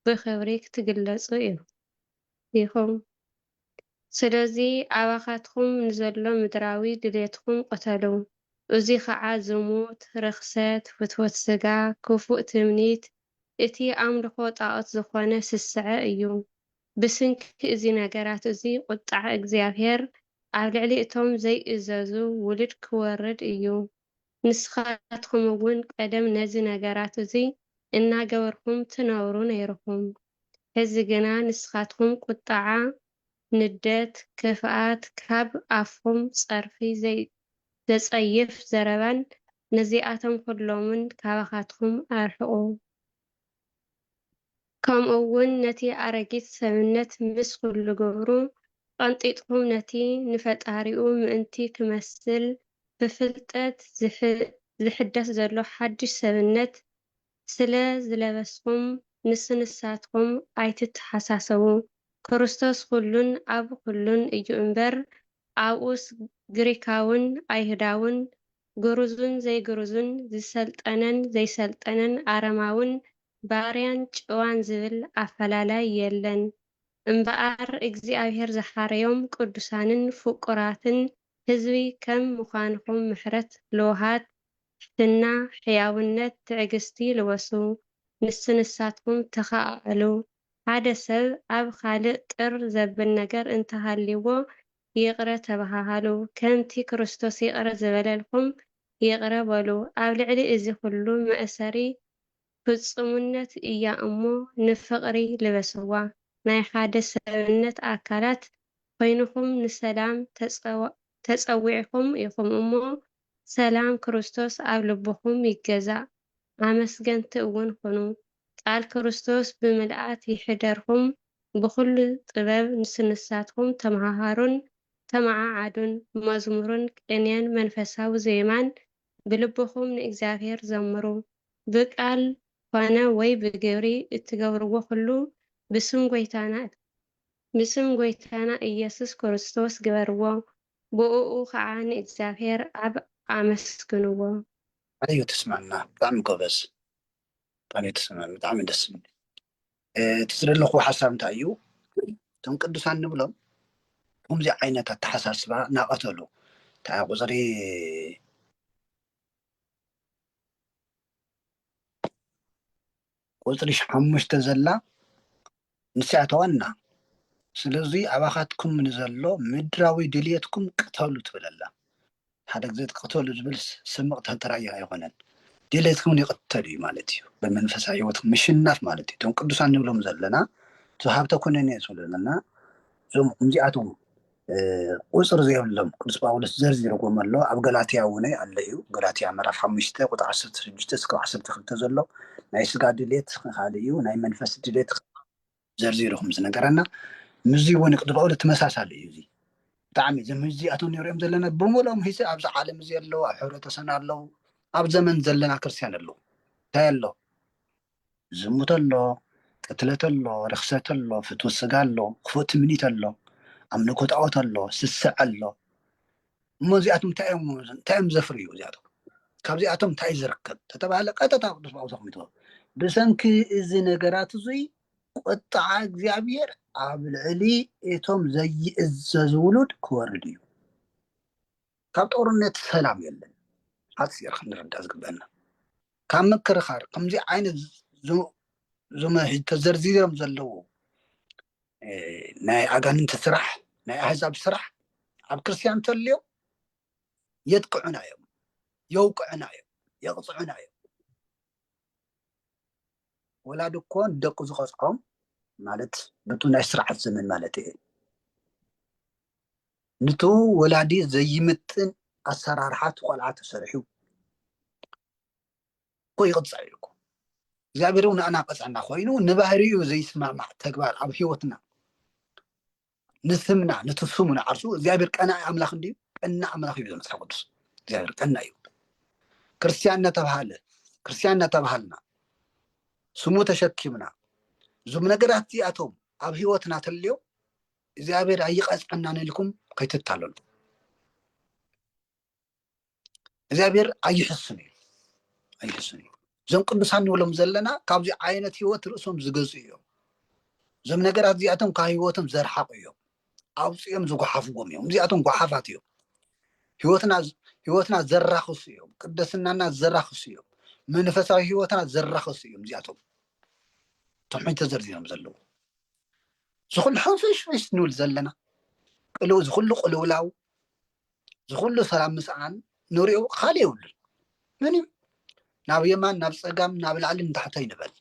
ብኽብሪ ክትግለጹ ኢኹም። ስለዚ ኣባኻትኩም ንዘሎ ምድራዊ ድሌትኩም ቅተሉ፣ እዙይ ኸዓ ዝሙት፣ ርኽሰት፣ ፍትወት ሥጋ፣ ክፉእ ትምኒት፣ እቲ ኣምልኾ ጣዖት ዝኾነ ስስዐ እዩ። ብስንኪ እዙ ነገራት እዙይ ቝጥዓ እግዚኣብሔር ኣብ ልዕሊ እቶም ዘይእዘዙ ውሉድ ክወርድ እዩ። ንስኻትኩም እውን ቀደም ነዚ ነገራት እዙይ እናገበርኩም ትነብሩ ነይርኹም። ሕዚ ግና ንስኻትኩም ቁጥዓ፣ ንደት፣ ክፍኣት፣ ካብ ኣፍኹም ፀርፊ፣ ዘፀይፍ ዘረባን ነዚኣቶም ኹሎምን ካባኻትኩም ኣርሕቑ። ከምኡ ውን ነቲ ኣረጊት ሰብነት ምስ ኩሉ ግብሩ ቐንጢጥኩም ነቲ ንፈጣሪኡ ምእንቲ ክመስል ብፍልጠት ዝሕደስ ዘሎ ሓድሽ ሰብነት ስለ ዝለበስኩም ምስ ንሳትኩም ኣይትተሓሳሰቡ ክርስቶስ ኩሉን ኣብ ኩሉን እዩ እምበር ኣብኡስ ግሪካውን ኣይሁዳውን ግሩዙን ዘይግሩዙን፣ ዝሰልጠነን ዘይሰልጠነን፣ ኣረማውን ባርያን ጭዋን ዝብል ኣፈላላይ የለን። እምበኣር እግዚኣብሔር ዝሓረዮም ቅዱሳንን ፍቁራትን ሕዝቢ ከም ምዃንኹም ምሕረት ልውሃት፣ ትሕትና፣ ሕያውነት፣ ትዕግሥቲ ልበሱ። ንስ ንሳትኩም ተኸኣኣሉ። ሓደ ሰብ ኣብ ኻልእ ጥር ዘብል ነገር እንተሃልይዎ ይቕረ ተበሃሃሉ፣ ከምቲ ክርስቶስ ይቕረ ዝበለልኩም ይቕረ በሉ። ኣብ ልዕሊ እዚ ኹሉ መእሰሪ ፍጹምነት እያ እሞ ንፍቕሪ ልበስዋ። ናይ ሓደ ሰብነት ኣካላት ኾይንኹም ንሰላም ተጸዊዕኹም ኢኹም እሞ ሰላም ክርስቶስ ኣብ ልብኹም ይገዛእ፣ ኣመስገንቲ እውን ኹኑ፣ ቃል ክርስቶስ ብምልኣት ይሕደርኩም፣ ብኹሉ ጥበብ ንስንሳትኩም ተመሃሃሩን ተመዓዓዱን፣ መዝሙርን ቅኔን መንፈሳዊ ዜማን ብልብኹም ንእግዚኣብሔር ዘምሩ። ብቃል ኾነ ወይ ብግብሪ እትገብርዎ ኹሉ ብስም ጐይታና ብስም ጐይታና ኢየሱስ ክርስቶስ ግበርዎ፣ ብኡኡ ኸኣ ንእግዚኣብሔር ኣብ ኣመስግንዎ። ኣዩ ተስማምና ብጣዕሚ ጎበዝ ብጣዕሚ ተስማሚ ብጣዕሚ ደስ ዝብል እቲ ዝደለኹዎ ሓሳብ እንታይ እዩ እቶም ቅዱሳን ንብሎም ከምዚ ዓይነት ኣተሓሳስባ ናቐተሉ እንታይ ቁፅሪ ቁጽሪ ሓሙሽተ ዘላ ንሳ'ያ እታ ዋና። ስለዙይ ኣባኻትኩም ንዘሎ ምድራዊ ድልየትኩም ቅተሉ ትብል ኣላ። ሓደ ግዜ እቲ ቅተሉ ዝብል ስም ቅተሉ ጥራይ እዩ ኣይኮነን። ድልየትኩም ይቕተል እዩ ማለት እዩ። ብመንፈሳዊ ህይወትኩም ምሽናፍ ማለት እዩ። እቶም ቅዱሳን ንብሎም ዘለና እዞም ሃብተ ኩነኔ ዝብሉ ዘለና እዞም ከምዚኣቶም ቁጽሪ ዘይብሎም ቅዱስ ጳውሎስ ዘርዚርዎም ኣሎ ኣብ ገላትያ እውን ኣሎ እዩ ገላትያ ምዕራፍ ሓሙሽተ ቁጥሪ ዓሰርተ ሽዱሽተ እስከ ዓሰርተ ክልተ ዘሎ ናይ ስጋ ድሌት ካልእ እዩ ናይ መንፈስ ድሌት ዘርዚሩ ከም ዝነገረና ምዚ እውን ቅዱስ ጳውሎስ ተመሳሳሊ እዩ እዚ ብጣዕሚ እዞም ሕዚ ኣቶም ንሪኦም ዘለና ብምሎም ሂዚ ኣብዚ ዓለም እዚ ኣለዉ ኣብ ሕብረተሰብና ኣለዉ ኣብ ዘመን ዘለና ክርስትያን ኣለዉ እንታይ ኣሎ ዝሙት ኣሎ፣ ቅትለት ኣሎ፣ ርኽሰት ኣሎ፣ ፍትወት ስጋ ኣሎ፣ ክፉእ ትምኒት ኣሎ፣ ኣምልኮ ጣኦት ኣሎ፣ ስስዐ ኣሎ፣ እሞ እዚኣቶም እንታይ እዮም እንታይ እዮም ዘፍርዩ እዚኣቶም ካብዚኣቶም እንታይ ዝርከብ ተተባህለ ቀጥታ ቅዱስ ጳውሎስ ኣቕሚጥዎ ብሰንኪ እዚ ነገራት እዙይ ቁጥዓ እግዚኣብሔር ኣብ ልዕሊ እቶም ዘይእዘዙ ውሉድ ክወርድ እዩ ካብ ጦርነት ሰላም የለን ሓፂር ክንርዳእ ዝግበና ካብ ምክርኻር ከምዚ ዓይነት ዞመ ሕዚ ተዘርዚሮም ዘለዉ ናይ ኣጋንንቲ ስራሕ ናይ ኣህዛብ ስራሕ ኣብ ክርስትያን ተልዮ የጥቅዑና እዮም የውቅዑና እዮም የቕፅዑና እዮም ወላድ እኮ ንደቁ ዝቐፅዖም ማለት በቱ ናይ ስርዓት ዘመን ማለት እየ ንቱ ወላዲ ዘይምጥን ኣሰራርሓ እቲ ቆልዓ ተሰሪሑ እኮ ይቕፃዕ እዩ እኮ እግዚኣብሔር እውን ንኣና ቀፅዐና ኮይኑ ንባህሪኡ ዘይስማማዕ ተግባር ኣብ ህይወትና ንስምና ነቲ ስሙ ንዓርሱ እግዚኣብሔር ቀናኢ ኣምላኽ እንድዩ ቀና ኣምላኽ እዩ መፅሓፍ ቅዱስ እግዚኣብሔር ቀና እዩ ክርስትያን እናተባሃለ ክርስትያን እናተባሃልና ስሙ ተሸኪምና እዞም ነገራት እዚኣቶም ኣብ ህይወትና ተልዮም እግዚኣብሔር ኣይቀፅዐናን ኢልኩም ከይትታለሉ እግዚኣብሔር ኣይሕስን እዩ ኣይሕስን እዩ እዞም ቅዱሳን ንብሎም ዘለና ካብዚ ዓይነት ህይወት ርእሶም ዝገዙ እዮም እዞም ነገራት እዚኣቶም ካብ ህይወቶም ዘርሓቁ እዮም ኣውፅኦም ዝጓሓፍዎም እዮም እዚኣቶም ጓሓፋት እዮም ህይወትና ህይወትና ዘራኽሱ እዮም ቅደስናና ዘራኽሱ እዮም መንፈሳዊ ህይወትና ዘራኽሱ እዮም እዚኣቶም ቶም ሕጂ ተዘርዚሮም ዘለዉ ዝኹሉ ሕንፍሽፍሽ ንብል ዘለና ቅልው ዝኹሉ ቅልውላው ዝኹሉ ሰላም ምስኣን ንሪኦ ካልእ የብሉን ምንም ናብ የማን ናብ ፀጋም ናብ ላዕሊ ንታሕተ ይንበል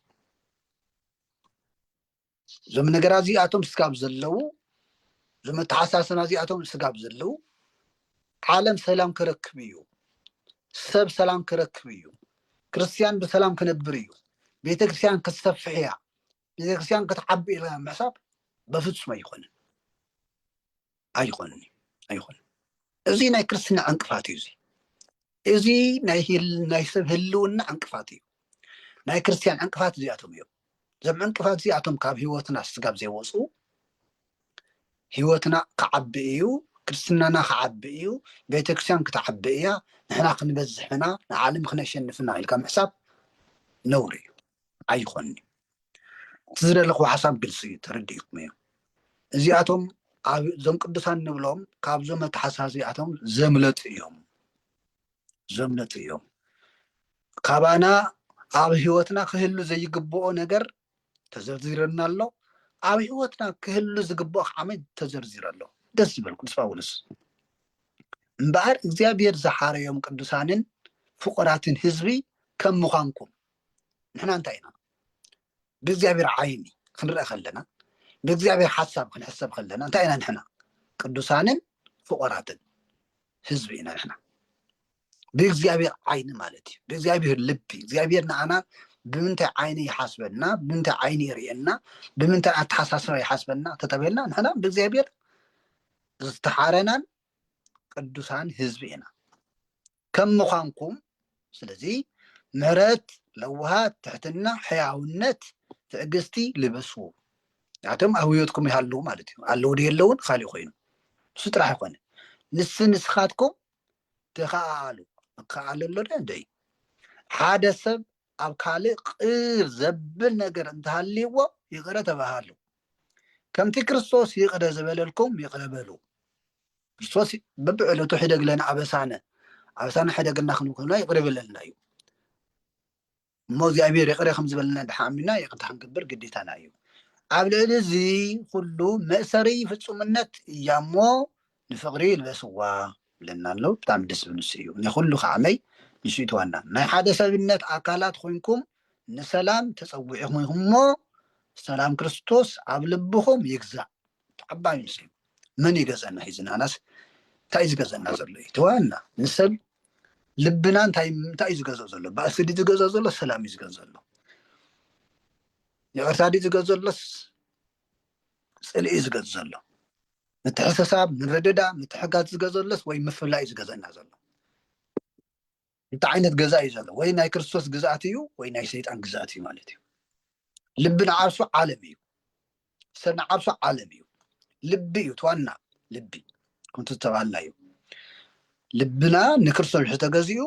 እዞም ነገራ እዚኣቶም ስጋብ ዘለዉ እዞም ኣተሓሳሰና እዚኣቶም ስጋብ ዘለዉ ዓለም ሰላም ክረክብ እዩ ሰብ ሰላም ክረክብ እዩ ክርስትያን ብሰላም ክነብር እዩ ቤተክርስትያን ክትሰፍሕ እያ ቤተክርስትያን ክትዓቢ ኢልካ ምሕሳብ በፍጹም ኣይኮንን ኣይኮንን ኣይኮንን እዚ ናይ ክርስትና ዕንቅፋት እዩ እዚ እዚ ናይ ሰብ ህልውና ዕንቅፋት እዩ ናይ ክርስትያን ዕንቅፋት እዚኣቶም እዮም እዞም ዕንቅፋት እዚኣቶም ካብ ህይወትና ስጋብ ዘይወፁ ህይወትና ክዓቢ እዩ ክርስትናና ክዓቢ እዩ ቤተክርስትያን ክትዓቢ እያ ንሕና ክንበዝሕና ንዓለም ክነሸንፍና ኢልካ ምሕሳብ ነውሪ እዩ ኣይኾንዩ እቲ ዝደለኹ ሓሳብ ግልፂ እዩ ተረዲእኩም እዩ እዚኣቶም ኣብዞም ቅዱሳን ንብሎም ካብዞም ኣተሓሳ እዚኣቶም ዘምለጡ እዮም ዘምለጡ እዮም ካባና ኣብ ሂወትና ክህሉ ዘይግብኦ ነገር ተዘርዚረና ኣሎ ኣብ ሂወትና ክህሉ ዝግብኦ ከዓመ ተዘርዚረ ኣሎ ደስ ዝበል ቅዱስ ጳውሎስ እምበኣር እግዚኣብሔር ዝሓረዮም ቅዱሳንን ፍቁራትን ህዝቢ ከም ምዃንኩም ንሕና እንታይ ኢና ብእግዚኣብሔር ዓይኒ ክንርአ ከለና ብእግዚኣብሔር ሓሳብ ክንሕሰብ ከለና እንታይ ኢና ንሕና ቅዱሳንን ፍቆራትን ህዝቢ ኢና ንሕና ብእግዚኣብሔር ዓይኒ ማለት እዩ ብእግዚኣብሔር ልቢ እግዚኣብሔር ንኣና ብምንታይ ዓይኒ ይሓስበና ብምንታይ ዓይኒ ይርእየና ብምንታይ ኣተሓሳስባ ይሓስበና ተተበልና ንሕና ብእግዚኣብሔር ዝተሓረናን ቅዱሳን ህዝቢ ኢና ከም ምዃንኩም ስለዚ ምሕረት ለውሃት ትሕትና ሕያውነት ትዕግስቲ ልበሱ ንኣቶም ኣብ ህይወትኩም ይሃልዉ ማለት እዩ ኣለዉ ዶ የለውን ካሊእ ኮይኑ ንሱ ጥራሕ ይኮነ ንስ ንስኻትኩም ተኸኣሉ ክከኣሉ ኣሎ ዶ እንዶ እዩ ሓደ ሰብ ኣብ ካልእ ቅር ዘብል ነገር እንተሃልይዎ ይቕረ ተባሃሉ ከምቲ ክርስቶስ ይቕረ ዝበለልኩም ይቕረ በሉ ክርስቶስ በብዕለቱ ሕደግ ለነ ኣበሳነ ኣበሳነ ሕደግና ክንብክልና ይቕሪ በለልና እዩ እሞ እግዚኣብሔር ይቕረ ከም ዝበለና ድሓ ኣሚና ይቕርታ ክንገብር ግዴታና እዩ ኣብ ልዕሊ እዚ ኩሉ መእሰሪ ፍፁምነት እያ እሞ ንፍቕሪ ይልበስዋ ብለና ኣሎ ብጣዕሚ ደስ ዝብል ንሱ እዩ ንኩሉ ከዓመይ ንሱ እዩ ተዋና ናይ ሓደ ሰብነት ኣካላት ኮይንኩም ንሰላም ተፀዊዕኹም ኢኹም እሞ ሰላም ክርስቶስ ኣብ ልብኹም ይግዛእ ተዓባይ ምስሉ መን እዩ ገዘና ሒዝና ኣናስ እንታይ እዩ ዝገዘና ዘሎ እዩ ተዋና ንሰብ ልብና እንታይ እንታይ እዩ ዝገዘእ ዘሎ ባእሲ ድዩ ዝገዘእ ዘሎ ሰላም እዩ ዝገዘእ ዘሎ ይቅርታ ድዩ ዝገዘእ ዘሎስ ፅልኢ እዩ ዝገዝእ ዘሎ ምትሕሰሳብ ምርድዳ ምትሕጋዝ ዝገዘለስ ወይ ምፍላይ እዩ ዝገዘና ዘሎ እንተ ዓይነት ገዛ እዩ ዘሎ ወይ ናይ ክርስቶስ ግዝኣት እዩ ወይ ናይ ሰይጣን ግዝኣት እዩ ማለት እዩ ልቢ ንዓርሱ ዓለም እዩ ሰብ ንዓርሱ ዓለም እዩ ልቢ እዩ ትዋና ልቢ ከምቲ ዝተባሃልና እዩ ልብና ንክርስቶስ ምሕዚ ተገዚኡ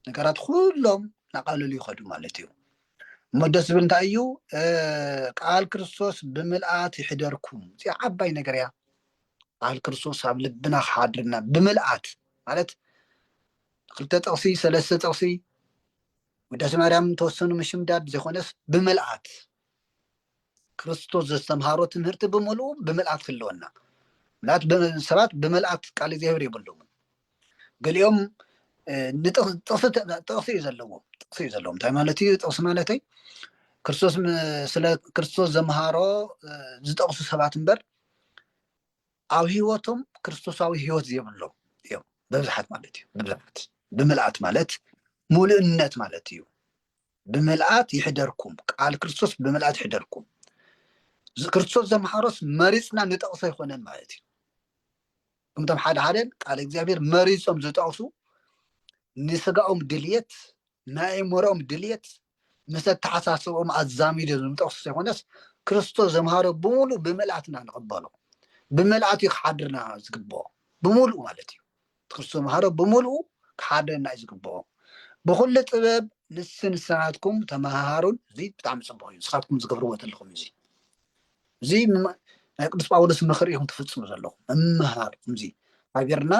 ነገራት ኩሎም ናቃለሉ ይኸዱ ማለት እዩ እሞ ደስ ዝብል እንታይ እዩ ቃል ክርስቶስ ብምልኣት ይሕደርኩም እዚኣ ዓባይ ነገር እያ በዓል ክርስቶስ ኣብ ልብና ክሓድርና ብምልኣት ማለት ክልተ ጥቕሲ ሰለስተ ጥቕሲ ውዳሴ ማርያም ተወሰኑ ምሽምዳድ ዘይኮነስ ብምልኣት ክርስቶስ ዘስተምሃሮ ትምህርቲ ብምልኡ ብምልኣት ክለወና ምልኣት ሰባት ብምልኣት ቃል እግዚኣብሔር የብሎምን ገሊኦም ጥቕሲ እዩ ዘለዎም ጥቕሲ እዩ ዘለዎም እንታይ ማለት እዩ ጥቕሲ ማለተይ ክርስቶስ ስለ ክርስቶስ ዘምሃሮ ዝጠቕሱ ሰባት እምበር ኣብ ህይወቶም ክርስቶሳዊ ህይወት ዘይብሎም እዮም ብብዝሓት ማለት እዩ ብብዝሓት ብምልኣት ማለት ሙሉእነት ማለት እዩ ብምልኣት ይሕደርኩም ቃል ክርስቶስ ብምልኣት ይሕደርኩም ክርስቶስ ዘምሓሮስ መሪፅና ንጠቕሶ ኣይኮነን ማለት እዩ እምቶም ሓደ ሓደን ቃል እግዚኣብሔር መሪፆም ዝጠቕሱ ንስጋኦም ድልየት ናይ ኣእምሮኦም ድልየት ምስ ኣተሓሳስብኦም ኣዛሚዱ ዝምጠቅሱ ዘይኮነስ ክርስቶስ ዘምሃሮ ብምሉእ ብምልኣት ኢና ንቅበሎ ብምልኣት እዩ ክሓድርና ዝግብኦ ብምሉእ ማለት እዩ ክርስቶስ ዘምሃሮ ብምሉእ ክሓድረና እዩ ዝግብኦ ብኩሉ ጥበብ ንስ ንስኻትኩም ተመሃሃሩን እዚ ብጣዕሚ ፅቡቅ እዩ ንስኻትኩም ዝገብርዎ ዘለኹም እዚ እዚ ናይ ቅዱስ ጳውሎስ ምኽሪ ኢኹም ትፍፅሙ ዘለኹም ምምሃር እዚ ሃገርና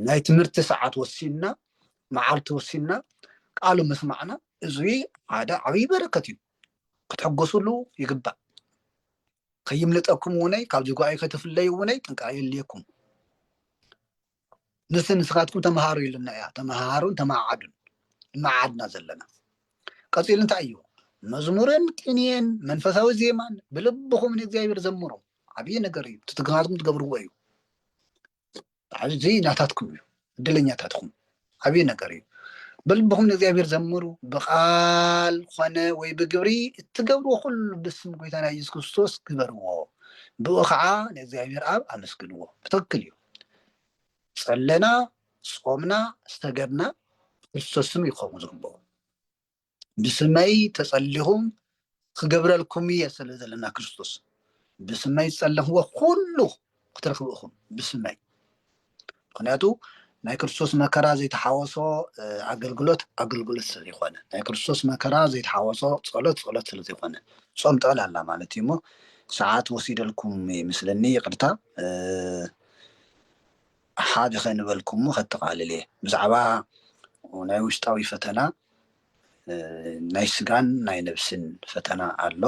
ናይ ትምህርቲ ሰዓት ወሲንና መዓልቲ ወሲንና ቃሉ ምስማዕና እዙይ ሓደ ዓብይ በረከት እዩ ክትሕጎስሉ ይግባእ ከይምልጠኩም እውነይ ካብዚ ጓይ ከይተፍለዩ እውነይ ጥንቃ የልየኩም ንስ ንስኻትኩም ተምሃሩ ኢሉና እያ ተምሃሩን ተማዓዱን መዓድና ዘለና ቀፂሉ እንታይ እዩ መዝሙርን ቅንየን መንፈሳዊ ዜማን ብልብኹም ንእግዚኣብሔር ዘምሩ ዓብዪ ነገር እዩ ትትግናትኩም ትገብርዎ እዩ እዚ ናታትኩም እዩ ዕድለኛታት ኹም ዓብዪ ነገር እዩ በልብኹም ንእግዚኣብሔር ዘምሩ ብቃል ኾነ ወይ ብግብሪ እትገብርዎ ኩሉ ብስም ጎይታና ኢየሱስ ክርስቶስ ግበርዎ ብኡ ከዓ ንእግዚኣብሔር ኣብ ኣመስግንዎ ብትክክል እዩ ጸለና ጾምና ዝተገድና ክርስቶስም ይኸውን ዝግበኦ ብስመይ ተጸሊኹም ክገብረልኩም እየ ስለ ዘለና ክርስቶስ ብስመይ ዝጸለኽዎ ኩሉ ክትረኽቡ ኢኹም ብስመይ ምክንያቱ ናይ ክርስቶስ መከራ ዘይተሓወሶ ኣገልግሎት ኣገልግሎት ስለ ዘይኮነ ናይ ክርስቶስ መከራ ዘይተሓወሶ ጸሎት ጸሎት ስለ ዘይኮነ ጾም ጥዕል ኣላ ማለት እዩ እሞ ሰዓት ወሲደልኩም ይምስለኒ ይቅርታ ሓደ ከንበልኩሞ ከጠቓልል እየ ብዛዕባ ናይ ውሽጣዊ ፈተና ናይ ስጋን ናይ ነብስን ፈተና ኣሎ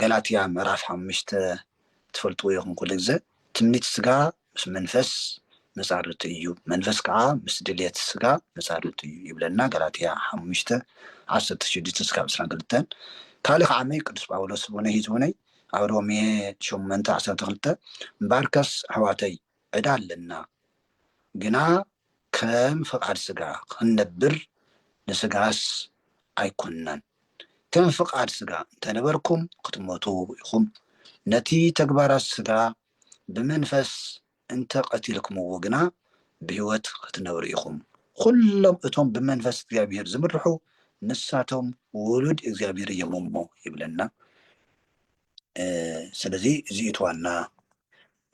ገላትያ ምዕራፍ ሓሙሽተ ትፈልጥዎ ኢኹም ኩሉ ግዘ ትምኒት ስጋ ምስ መንፈስ መጻርርቱ እዩ መንፈስ ከኣ ምስ ድልየት ስጋ መጻርርቱ እዩ ይብለና ገላትያ ሓሙሽተ ዓሰርተ ሽዱሽተ ስካብ ዕስራን ክልተን ካልእ ከኣ መይ ቅዱስ ጳውሎስ ዝቡነይ ህዝቡነይ ኣብ ሮሜ ሸሞንተ ዓሰርተ ክልተ እምበኣርከስ ኣሕዋተይ ዕዳ ኣለና ግና ከም ፍቃድ ስጋ ክንነብር ንስጋስ ኣይኮናን ከም ፍቃድ ስጋ እንተነበርኩም ክትሞቱ ኢኹም ነቲ ተግባራት ስጋ ብመንፈስ እንተ ቀቲልክምዎ ግና ብሕይወት ክትነብሩ ኢኹም ኹሎም እቶም ብመንፈስ እግዚኣብሔር ዝምርሑ ንሳቶም ውሉድ እግዚኣብሔር እዮም እሞ ይብለና ስለዚ እዚ እቲ ዋና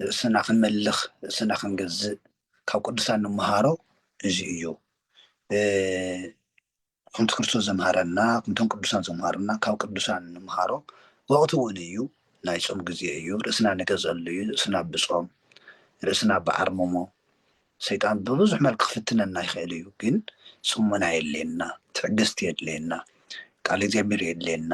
ርእስና ክንመልኽ ርእስና ክንገዝእ ካብ ቅዱሳን ንመሃሮ እዚ እዩ ከምቲ ክርስቶስ ዘምሃረና ከምቶም ቅዱሳን ዘምሃሩና ካብ ቅዱሳን ንምሃሮ ወቅቲ እውን እዩ ናይ ፆም ግዜ እዩ ርእስና ንገዘሉ እዩ ርእስና ብፆም ርእስና ብዓርምሞ ሰይጣን ብብዙሕ መልክ ክፍትነና ይኽእል እዩ ግን ፅሙና የድልየና ትዕግስቲ የድልየና ቃል እግዚኣብሔር የድልየና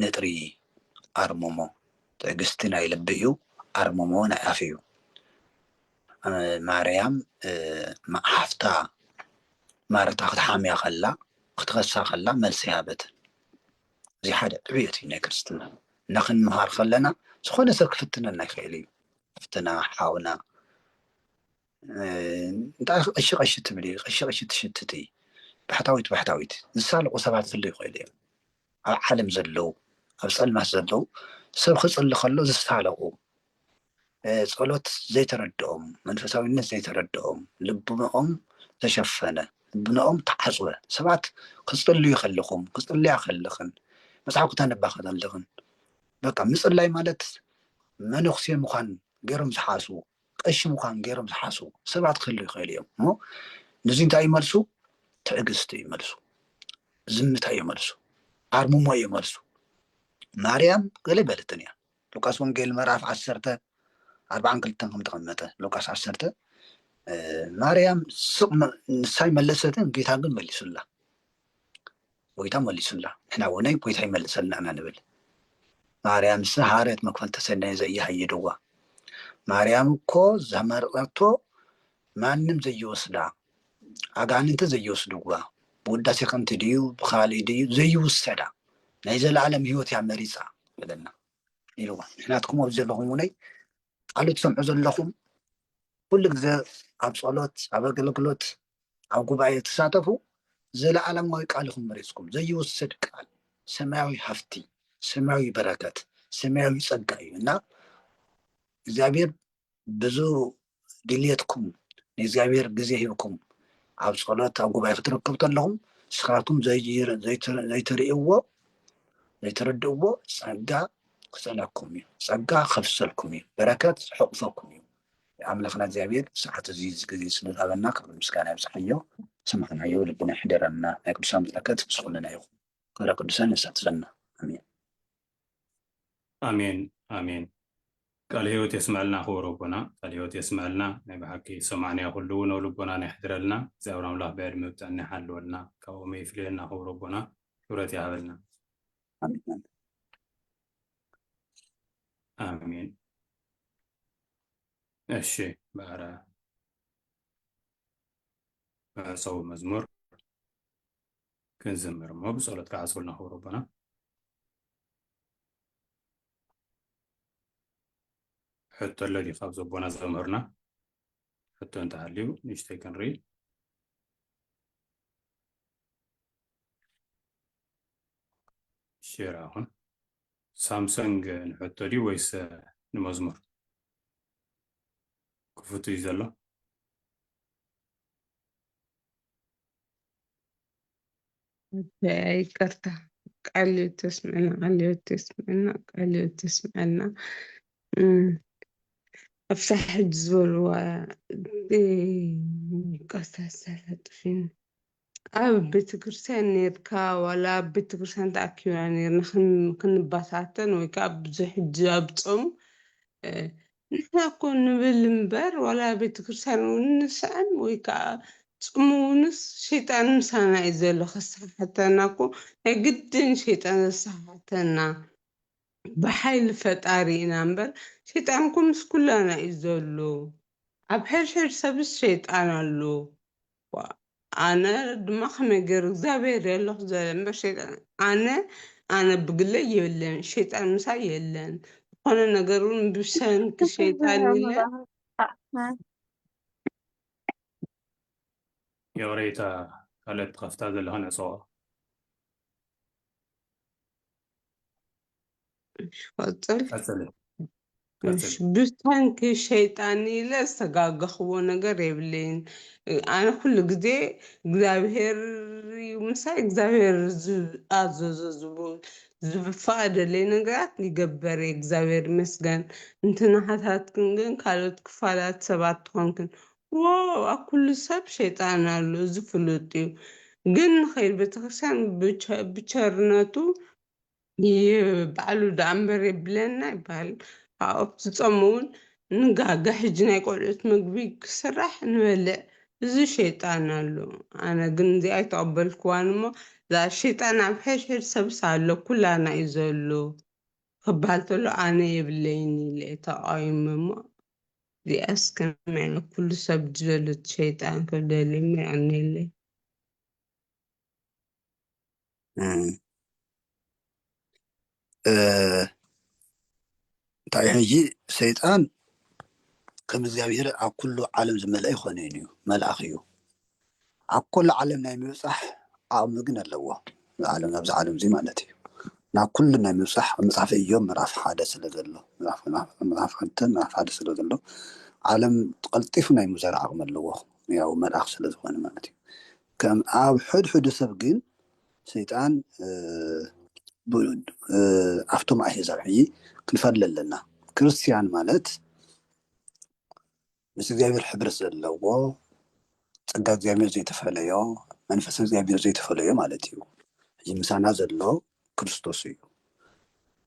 ንጥሪ ኣርምሞ ትዕግስቲ ናይ ልቢ እዩ ኣርምሞ ናይ ኣፍ እዩ ማርያም ሓፍታ ማርታ ክትሓምያ ከላ ክትኸሳ ከላ መልሲ ሃበትን እዚ ሓደ ዕብየት እዩ ናይ ክርስትና እና ክንምሃር ከለና ዝኾነ ሰብ ክፍትነና ይኽእል እዩ ሓፍትና ሓውና እንታይ ቀሺ ቀሺ ትብሊ ቀሺ ቀሺ ትሽትቲ ባሕታዊት ባሕታዊት ዝሳለቑ ሰባት ክህሉ ይኽእሉ እዮም ኣብ ዓለም ዘለዉ ኣብ ፀልማት ዘለዉ ሰብ ክፅሊ ከሎ ዝሳለቑ ጸሎት ዘይተረድኦም መንፈሳዊነት ዘይተረድኦም ልብኖኦም ተሸፈነ ልብኖኦም ተዓፅወ ሰባት ክፅልዩ ከለኹም ክፅልያ ከለኽን መፅሓፍ ክተንባ ከለኽን በቃ ምፅላይ ማለት መነኩሴ ምዃን ገይሮም ዝሓስቡ ቀሺ ምዃን ገይሮም ዝሓስቡ ሰባት ክህሉ ይኽእሉ እዮም እሞ ንዚ እንታይ እዩ መልሱ? ትዕግስቲ እዩ መልሱ፣ ዝምታ እዩ መልሱ፣ ኣርምሞ እዩ መልሱ። ማርያም ገለ በለትን እያ ሉቃስ ወንጌል ምዕራፍ ዓሰርተ ኣርባዓን ክልተን ከም ተቐመጠ ሉቃስ ዓሰርተ ማርያም ስቕ ንሳይ መለሰትን ጌታ ግን መሊሱላ ጎይታ መሊሱላ ንሕና ውነይ ጎይታ ይመልሰልና እና ንብል ማርያም ሰ ሃረት መክፈልተ ሰናየ ዘኢሃየደዋ ማርያም እኮ ዘመረቀቶ ማንም ዘይወስዳ ኣጋንንተ ዘይወስድዋ ብውዳሴ ከምቲ ድዩ ብካልእ ድዩ ዘይውሰዳ ናይ ዘለኣለም ህይወት እያ መሪፃ በለና ኢልዋ ንሕናትኩም ኣብዚ ዘለኹም ውነይ ቃሉ ትሰምዑ ዘለኹም ኩሉ ግዜ ኣብ ጸሎት ኣብ ኣገልግሎት ኣብ ጉባኤ ትሳተፉ ዘለኣለማዊ ቃል ኢኹም መሪጽኩም። ዘይውሰድ ቃል ሰማያዊ ሃፍቲ፣ ሰማያዊ በረከት፣ ሰማያዊ ጸጋ እዩ እና እግዚኣብሔር ብዙ ድልየትኩም ንእግዚኣብሔር ግዜ ሂብኩም ኣብ ጸሎት ኣብ ጉባኤ ክትረከቡ ተለኹም ስኻቱም ዘይትርእይዎ ዘይትርድእዎ ጸጋ ክጸለኩም እዩ ጸጋ ከፍሰልኩም እዩ በረከት ዝሕቑፈኩም እዩ ኣምላኽና እግዚኣብሔር ሰዓት እዚ ግዜ ስለ ዝሃበና ክብሪ ምስጋና ይብጽሓዮ ሰማዕናዮ ልብና ይሕደረና ናይ ቅዱሳን በረከት ምስ ኩልና ይኹን ክብረ ቅዱሳን የሳትፈና ኣሜን ኣሜን ኣሜን ቃል ህይወት የስመዐልና ክቡር ኣቦና ቃል ህይወት የስመዐልና ናይ ብሓቂ ሰማዕንያ ኩሉ እውን ኣብ ልቦናና የሕድረልና እግዚኣብሔር ኣምላኽ ብዕድመ ብጥዕና ይሓልወልና ካብኦም ይፍልየና ክቡር ኣቦና ክብረት ይሃበልና ኣሜን እሺ ባዕረ መዕፀዊ መዝሙር ክንዝምር እሞ ብፀሎት ከዓ ሰውልና ክብሩ ኣቦና ሕቶ ኣሎ ድዩ ካብ ዘቦና ዘምህርና ሕቶ እንተሃልዩ ንእሽተይ ክንርኢ ሼር ኣኹን ሳምሰንግ ንሕቶ ድዩ ወይስ ንመዝሙር ክፉት እዩ ዘሎ? ይቅርታ ቃሉ ተስምዐና ቃሉ ተስምዐና ቃሉ ተስምዐና ኣብሳ ሕጂ ዝበልዋ ቀሳ ሳላ ጥፊን ኣብ ቤተክርስትያን ኔርካ ዋላ ኣብ ቤተክርስትያን ተኣኪብና ኔርና ክንባታተን ወይ ከዓ ብዙሕ ሕጂ ኣብ ጾም ንሕና እኮ ንብል እምበር ዋላ ኣብ ቤተክርስትያን እውን ንስዕም ወይ ከዓ ጽሙ እውንስ ሸይጣን ምሳና እዩ ዘሎ ከሰሓሓተና እኮ ናይ ግድን ሸይጣን ዘሰሓሓተና ብሓይሊ ፈጣሪ ኢና እምበር ሸይጣን እኮ ምስ ኩላና እዩ ዘሎ ኣብ ሕድሕድ ሰብስ ሸይጣን ኣሎ ኣነ ድማ ከመይ ገይሩ እግዚኣብሔር የለኹ ዘለ እምበር ሸይጣን ኣነ ኣነ ብግለይ የለን ሸይጣን ምሳይ የለን ዝኾነ ነገር እውን ብሰንኪ ሸይጣን ኢለ የቕሬታ ካልኦት ትኸፍታ ዘለኻ ነጸዋ ቀፅል ቀፅሊ ቀፅሊ ብሰንኪ ሸይጣን ኢለ ዝተጋገኽዎ ነገር የብለይን ኣነ ኩሉ ግዜ እግዚኣብሄር እዩ ምሳይ እግዚኣብሄር ዝኣዘዞ ዝብ- ዝፈቀደለይ ነገራት ይገበር እየ እግዚኣብሄር ይመስገን እንተ ናሃታትክን ግን ካልኦት ክፋላት ሰባት ትኾንክን ዋው ኣብ ኩሉ ሰብ ሸይጣን ኣሎ እዚ ፍሉጥ እዩ ግን ንኸይድ ቤተክርስትያን ብቸርነቱ ባዕሉ ደኣ እምበር የብለና ይበሃል ኣብኡ ትጾም እውን ንጋገ ሕጂ ናይ ቆልዑት ምግቢ ክስራሕ ንበልዕ እዚ ሸይጣን ኣሎ ኣነ ግን እዚ ኣይተቐበልክዋን እሞ እዛ ሸይጣን ኣብ ሕድሕድ ሰብስ ኣሎ ኩላና እዩ ዘሎ ክበሃል ተሎ ኣነ የብለይን ኢለ ተቓዊመ እሞ እዚኣስ ከመይ ኢላ ኩሉ ሰብ ዝበለት ሸይጣን ክብደል እሞ የዕኒለይ እንታይ ሕጂ ሰይጣን ከም እግዚኣብሄር ኣብ ኩሉ ዓለም ዝመልአ ኣይኮነን እዩ መልኣኽ እዩ ኣብ ኩሉ ዓለም ናይ ምብጻሕ ዓቕሚ ግን ኣለዎ። ንዓለም ናብዚ ዓለምዚ ማለት እዩ። ናብ ኩሉ ናይ ምብጻሕ ኣብ መጽሓፈ እዮብ ምዕራፍ ሓደ ስለ ዘሎ ምዕራፍ ክልተ ምዕራፍ ሓደ ስለ ዘሎ ዓለም ቀልጢፉ ናይ ምዞር ዓቕሚ ኣለዎ ያው መልኣኽ ስለ ዝኾነ ማለት እዩ። ከም ኣብ ሕድሕዱ ሰብ ግን ሰይጣን ኣብቶም ኣህዛብ ሕጂ ክንፈሊ ኣለና ክርስትያን ማለት ምስ እግዚኣብሔር ሕብረት ዘለዎ ጸጋ እግዚኣብሔር ዘይተፈለዮ መንፈስ እግዚኣብሔር ዘይተፈለዮ ማለት እዩ እዚ ምሳና ዘሎ ክርስቶስ እዩ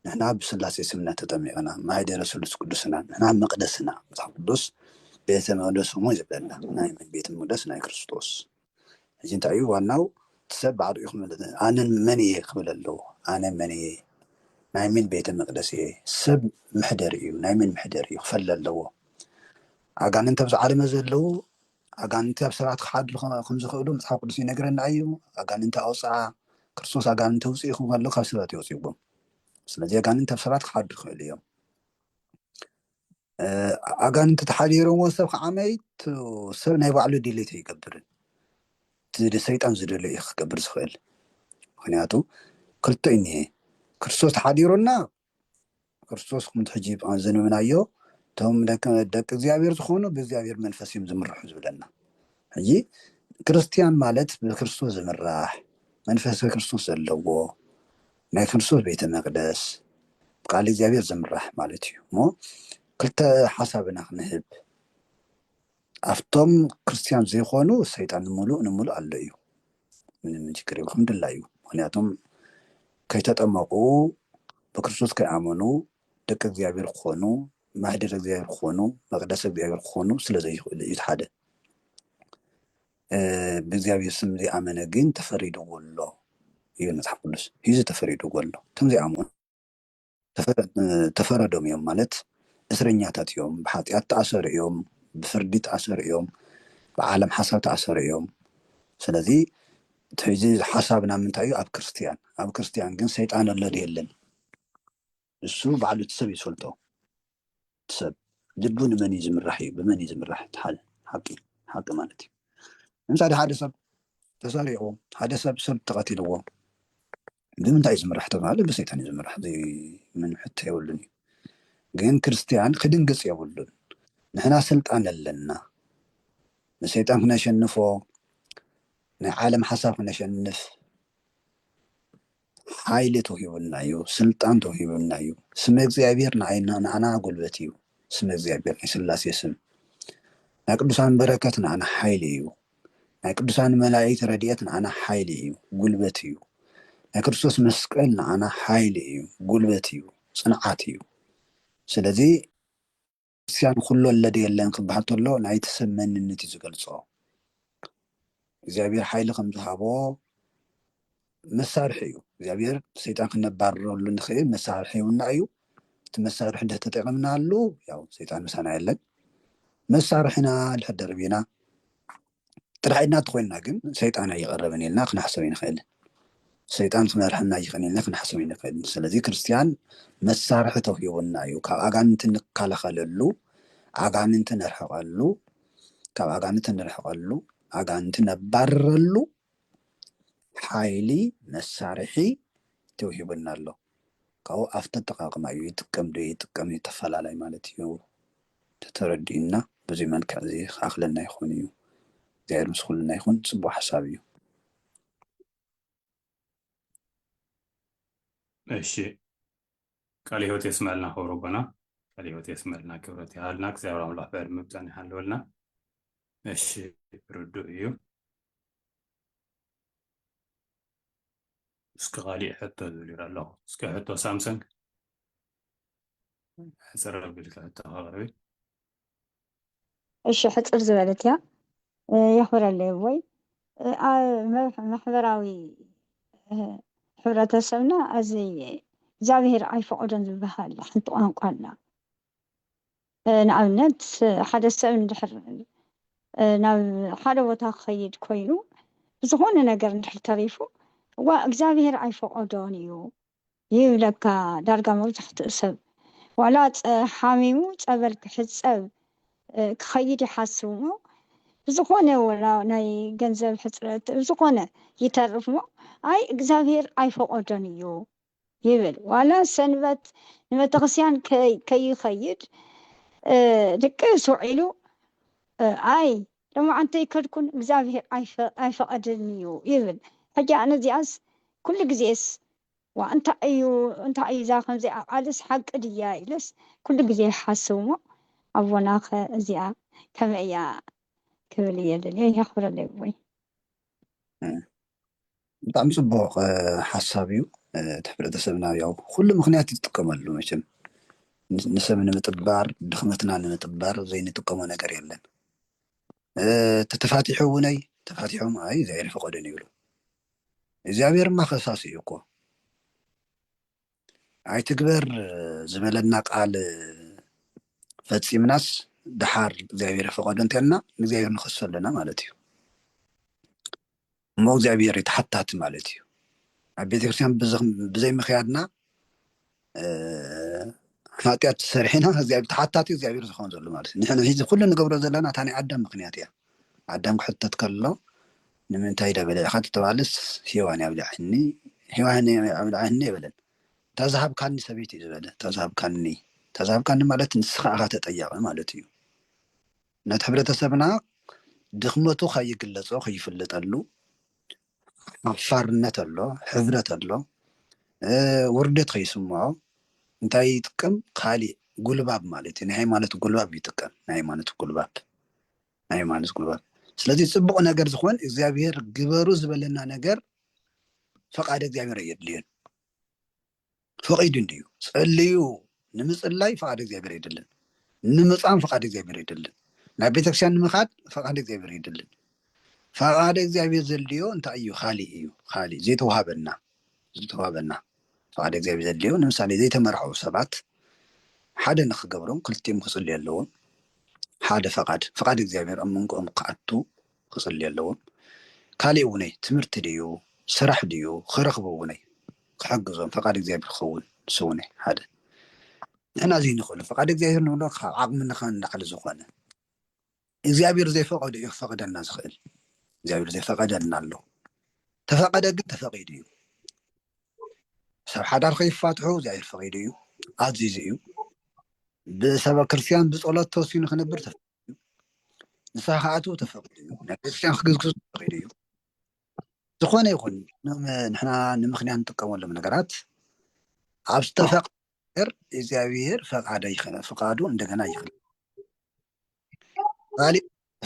ንሕና ብስላሴ ስምነት ተጠሚቕና ማይደረ ስሉስ ቅዱስና ንሕና መቅደስና መጽሓፍ ቅዱስ ቤተ መቅደስ እሞ ይብለና ናይ ቤተ መቅደስ ናይ ክርስቶስ ሕጂ እንታይ እዩ ዋናው እቲ ሰብ ባዕሉ እዩ ክምልጥ ን ኣነ መን እየ ክብል ኣለዎ ኣነ መን እየ ናይ ምን ቤተ መቅደስ እየ ሰብ ምሕደሪ እዩ ናይ መን ምሕደሪ እዩ ክፈሊ ኣለዎ ኣጋንንቲ ኣብዚ ዓለመ ዘለዉ ኣጋንንቲ ኣብ ሰባት ክሓድሩ ከም ዝኽእሉ መጽሓፍ ቅዱስ ይነግረና እዩ ኣጋንንቲ ኣውጽኣ ክርስቶስ ኣጋንንቲ ውጽእ ይኹም ኣሎ ካብ ሰባት የውጽእዎም ስለዚ ኣጋንንቲ ኣብ ሰባት ክሓድሩ ይኽእሉ እዮም ኣጋንንቲ ተሓዲሮምዎ ሰብ ከዓ መይቱ ሰብ ናይ ባዕሉ ድሌት ኣይገብርን እቲ ሰይጣን ዝደልዮ እዩ ክገብር ዝኽእል ምክንያቱ ክልተ እዩ እኒሀ ክርስቶስ ተሓዲሩና ክርስቶስ ከምቲ ሕጂ ዘንብናዮ እቶም ደቂ እግዚኣብሔር ዝኾኑ ብእግዚኣብሔር መንፈስ እዮም ዝምርሑ ዝብለና ሕጂ ክርስትያን ማለት ብክርስቶስ ዝምራሕ መንፈሰ ክርስቶስ ዘለዎ ናይ ክርስቶስ ቤተ መቅደስ ብቃል እግዚኣብሔር ዝምራሕ ማለት እዩ እሞ ክልተ ሓሳብ ኢና ክንህብ ኣብቶም ክርስትያን ዘይኮኑ ሰይጣን ንምሉእ ንምሉእ ኣሎ እዩ ምንም ችግር የብሉ ከም ድላዩ ምክንያቱም ከይተጠመቁ ብክርስቶስ ከይኣመኑ ደቂ እግዚኣብሔር ክኾኑ ማህደር እግዚኣብሔር ክኾኑ መቅደስ እግዚኣብሔር ክኾኑ ስለ ዘይኽእሉ እዩ ሓደ ብእግዚኣብሔር ስም ዘይኣመነ ግን ተፈሪድዎ ኣሎ ይብል መጽሓፍ ቅዱስ ሂዙ ተፈሪድዎ ኣሎ እቶም ዘይኣምኑ ተፈረዶም እዮም ማለት እስረኛታት እዮም ብሓጢኣት ተኣሰሩ እዮም ብፍርዲ ተኣሰሩ እዮም ብዓለም ሓሳብ ተኣሰሩ እዮም ስለዚ እዚ ሓሳብና ምንታይ እዩ ኣብ ክርስትያን ኣብ ክርስትያን ግን ሰይጣን ኣሎ የለን ንሱ ባዕሉ እቲ ሰብ እዩ ዝፈልጦ እቲ ሰብ ልቡ ንመን እዩ ዝምራሕ እዩ ብመን እዩ ዝምራሕ እቲ ሓደ ሓቂ ሓቂ ማለት እዩ ንምሳሌ ሓደ ሰብ ተሰሪቑ ሓደ ሰብ ሰብ ተቐቲልዎ ብምንታይ እዩ ዝምራሕ ተባሃለ ብሰይጣን እዩ ዝምራሕ ዘይምን ሕቶ የብሉን እዩ ግን ክርስትያን ክድንግፅ የብሉን ንሕና ስልጣን ኣለና ንሰይጣን ክነሸንፎ ናይ ዓለም ሓሳብ ክነሸንፍ ሓይሊ ተውሂቡና እዩ ስልጣን ተውሂቡና እዩ ስመ እግዚኣብሔር ንዓና ጉልበት እዩ ስመ እግዚኣብሔር ናይ ስላሴ ስም ናይ ቅዱሳን በረከት ንዓና ሓይሊ እዩ ናይ ቅዱሳን መላእክት ረድኤት ንዓና ሓይሊ እዩ ጉልበት እዩ ናይ ክርስቶስ መስቀል ንዓና ሓይሊ እዩ ጉልበት እዩ ጽንዓት እዩ ስለዚ ክርስትያን ኹሉ ኣለ ዶ የለን ክበሃል ተሎ ናይቲ ሰብ መንነት እዩ ዝገልጾ። እግዚኣብሔር ሓይሊ ከም ዝሃቦ መሳርሒ እዩ። እግዚኣብሔር ሰይጣን ክነባርረሉ ንኽእል መሳርሒ ይውና እዩ። እቲ መሳርሒ እንድሕር ተጠቂምናሉ ያው ሰይጣን ምሳና የለን። መሳርሕና እንድሕር ደርቢና ጥራሕ ኢድና እንተኾይንና ግን ሰይጣን ኣይቐረበን ኢልና ክንሓሰብ ኣይንኽእል። ሰይጣን ክመርሐና ይኽእል ኢልና ክንሓሰብ ኣይንኽእል። ስለዚ ክርስትያን መሳርሒ ተውሂቡና እዩ። ካብ ኣጋንንቲ እንከላኸለሉ፣ ኣጋንንቲ ነርሕቐሉ፣ ካብ ኣጋንንቲ ንርሕቐሉ፣ ኣጋንንቲ ነባርረሉ ሓይሊ መሳርሒ ተውሂቡና ኣሎ። ካብኡ ኣብቲ ኣጠቃቅማ እዩ ይጥቀም ዶ ይጥቀም ይተፈላለይ ማለት እዩ። ተተረዲኡና በዙይ መልክዕ እዙይ ክኣኽለና ይኾን እዩ። እግዚኣብሔር ምስ ኩልና ይኹን ፅቡቅ ሓሳብ እዩ። እሺ ቃል ህይወት የስመልና ክብሩ ኣቦና ቃል ህይወት የስመልና ክብረት ይሃልና እግዚኣብሔር ኣምላኽ ብዕድመ ብጥዕና ይሃልወልና እሺ ርዱእ እዩ እስኪ ካሊእ ሕቶ ዝብል ይረ ኣለኹ እስኪ ሕቶ ሳምሰንግ ሕፅር ኣቢልካ ሕቶ ኣቕርቢ እሺ ሕፅር ዝበለት እያ የኽብረለይ ወይ ማሕበራዊ ሕብረተሰብና እዚ እግዚኣብሄር ኣይፈቐዶን ዝበሃል ሓንቲ ቋንቋ ኣላ ንኣብነት ሓደ ሰብ እንድሕር ናብ ሓደ ቦታ ክኸይድ ኮይኑ ብዝኾነ ነገር እንድሕር ተሪፉ እዋ እግዚኣብሄር ኣይፈቐዶን እዩ ይብለካ ዳርጋ መብዛሕትኡ ሰብ ዋላ ሓሚሙ ጸበል ክሕጸብ ክኸይድ ይሓስብሞ ብዝኾነ ወላ ናይ ገንዘብ ሕጽረት ብዝኾነ ይተርፍሞ ኣይ እግዚኣብሄር ኣይፈቆዶን እዩ ይብል ዋላ ሰንበት ንቤተክርስቲያን ከይኸይድ ድቅስ ውዒሉ ኣይ ሎሚ ኣንተይከድኩን እግዝኣብሄር ኣይፈቐድን እዩ ይብል ሕጂ ኣነ እዚኣስ ኩሉ ግዜስ ዋእ እንታይ እዩ እንታይ እዩ እዛ ከምዚኣ ቃልስ ሓቂ ድያ ኢለስ ኩሉ ግዜ ይሓስብ እሞ ኣቦናኸ እዚኣ ከመይ እያ ክብል እየ ደልየ የኽብረለይ ኣቦይ። ብጣዕሚ ፅቡቅ ሓሳብ እዩ እቲ ሕብረተሰብና ያው ኩሉ ምክንያት እዩ ዝጥቀመሉ መቸም ንሰብ ንምጥባር ድክመትና ንምጥባር ዘይንጥቀሞ ነገር የለን ተተፋቲሑ እውነይ ተፋቲሖም ኣይ እግዚኣብሔር ፈቀደን ይብሉ እግዚኣብሔርማ ከሳሲ እዩ እኮ ኣይትግበር ዝበለና ቃል ፈፂምናስ ድሓር እግዚኣብሔር ፈቐዶ እንተልና ንእግዚኣብሔር ንኸሶ ኣለና ማለት እዩ እሞ እግዚኣብሔር ተሓታቲ ማለት እዩ ኣብ ቤተክርስትያን ብዘይ ምክያድና ሓጢኣት ሰሪሕና ተሓታቲ እግዚኣብሔር ዝኸውን ዘሎ ማለት እዩ ንሕና ሒዚ ኩሉ ንገብሮ ዘለና እታ ናይ ኣዳም ምክንያት እያ ኣዳም ክሕተት ከሎ ንምንታይ ኢዳ በሊዕካ ተተባህለስ ሄዋን እያ ኣብሊዓትኒ ሄዋን እያ ኣብሊዓትኒ ኣይበለን እታ ዝሃብካኒ ሰበይቲ እዩ ዝበለ እታ ዝሃብካኒ እታ ዝሃብካኒ ማለት ንስኻ ኢኻ ተጠያቒ ማለት እዩ ነቲ ሕብረተሰብና ድኽመቱ ከይግለጾ ከይፍለጠሉ ሓፋርነት ኣሎ ሕብረት ኣሎ ውርደት ከይስምዖ እንታይ ይጥቀም ካሊእ ጉልባብ ማለት እዩ ናይ ሃይማኖት ጉልባብ ይጥቀም ናይ ሃይማኖት ጉልባብ ናይ ዮሃንስ ጉልባት ስለዚ ፅቡቅ ነገር ዝኮን እግዚኣብሄር ግበሩ ዝበለና ነገር ፈቃድ እግዚኣብሄር ኣየድልዮን ፈቂዱ እንድዩ ፀልዩ ንምፅላይ ፈቃድ እግዚኣብሄር ኣይደልን ንምፃም ፈቃድ እግዚኣብሄር ኣይደልን ናብ ቤተክርስትያን ንምካድ ፈቃድ እግዚኣብሄር ኣይደልን ፈቃድ እግዚኣብሄር ዘድልዮ እንታይ እዩ ካሊእ እዩ ካሊእ ዘይተዋሃበና ዝተዋሃበና ፍቓድ እግዚኣብሔር ዘድልዮ ንምሳሌ ዘይተመርዓዉ ሰባት ሓደ ንኽገብሮም ክልቲኦም ክጽልዩ ኣለዎም ሓደ ፍቓድ ፍቓድ እግዚኣብሔር ኣብ መንጎኦም ክኣቱ ክጽልዩ ኣለዎም ካሊእ እውነይ ትምህርቲ ድዩ ስራሕ ድዩ ክረኽቡ እውነይ ክሕግዞም ፍቓድ እግዚኣብሔር ክኸውን ስውነ ሓደ ንሕና ዘይንኽእሉ ፍቓድ እግዚኣብሔር ንብሎ ካብ ዓቕምንኻ ንላዕሊ ዝኾነ እግዚኣብሔር ዘይፈቐዶ እዩ ክፈቐደና ዝኽእል እግዚኣብሔር ዘይፈቐደልና ኣሎ ተፈቐደ ግን ተፈቒዱ እዩ ሰብ ሓዳር ከይፋትሑ እግዚኣብሔር ፈቒዱ እዩ ኣዚዙ እዩ ብሰበ ክርስትያን ብፀሎት ተወሲኑ ክነብር ተፈ ንስኻ ክኣትው ተፈቒዱ እዩ ናይ ቤተክርስትያን ክግዝግዙ ተፈቒዱ እዩ ዝኾነ ይኹን ንሕና ንምክንያት ንጥቀመሎም ነገራት ኣብ ዝተፈቐ ነገር እግዚኣብሔር ፈቃደ ይኸነ ፍቃዱ እንደገና ይክል ባሊ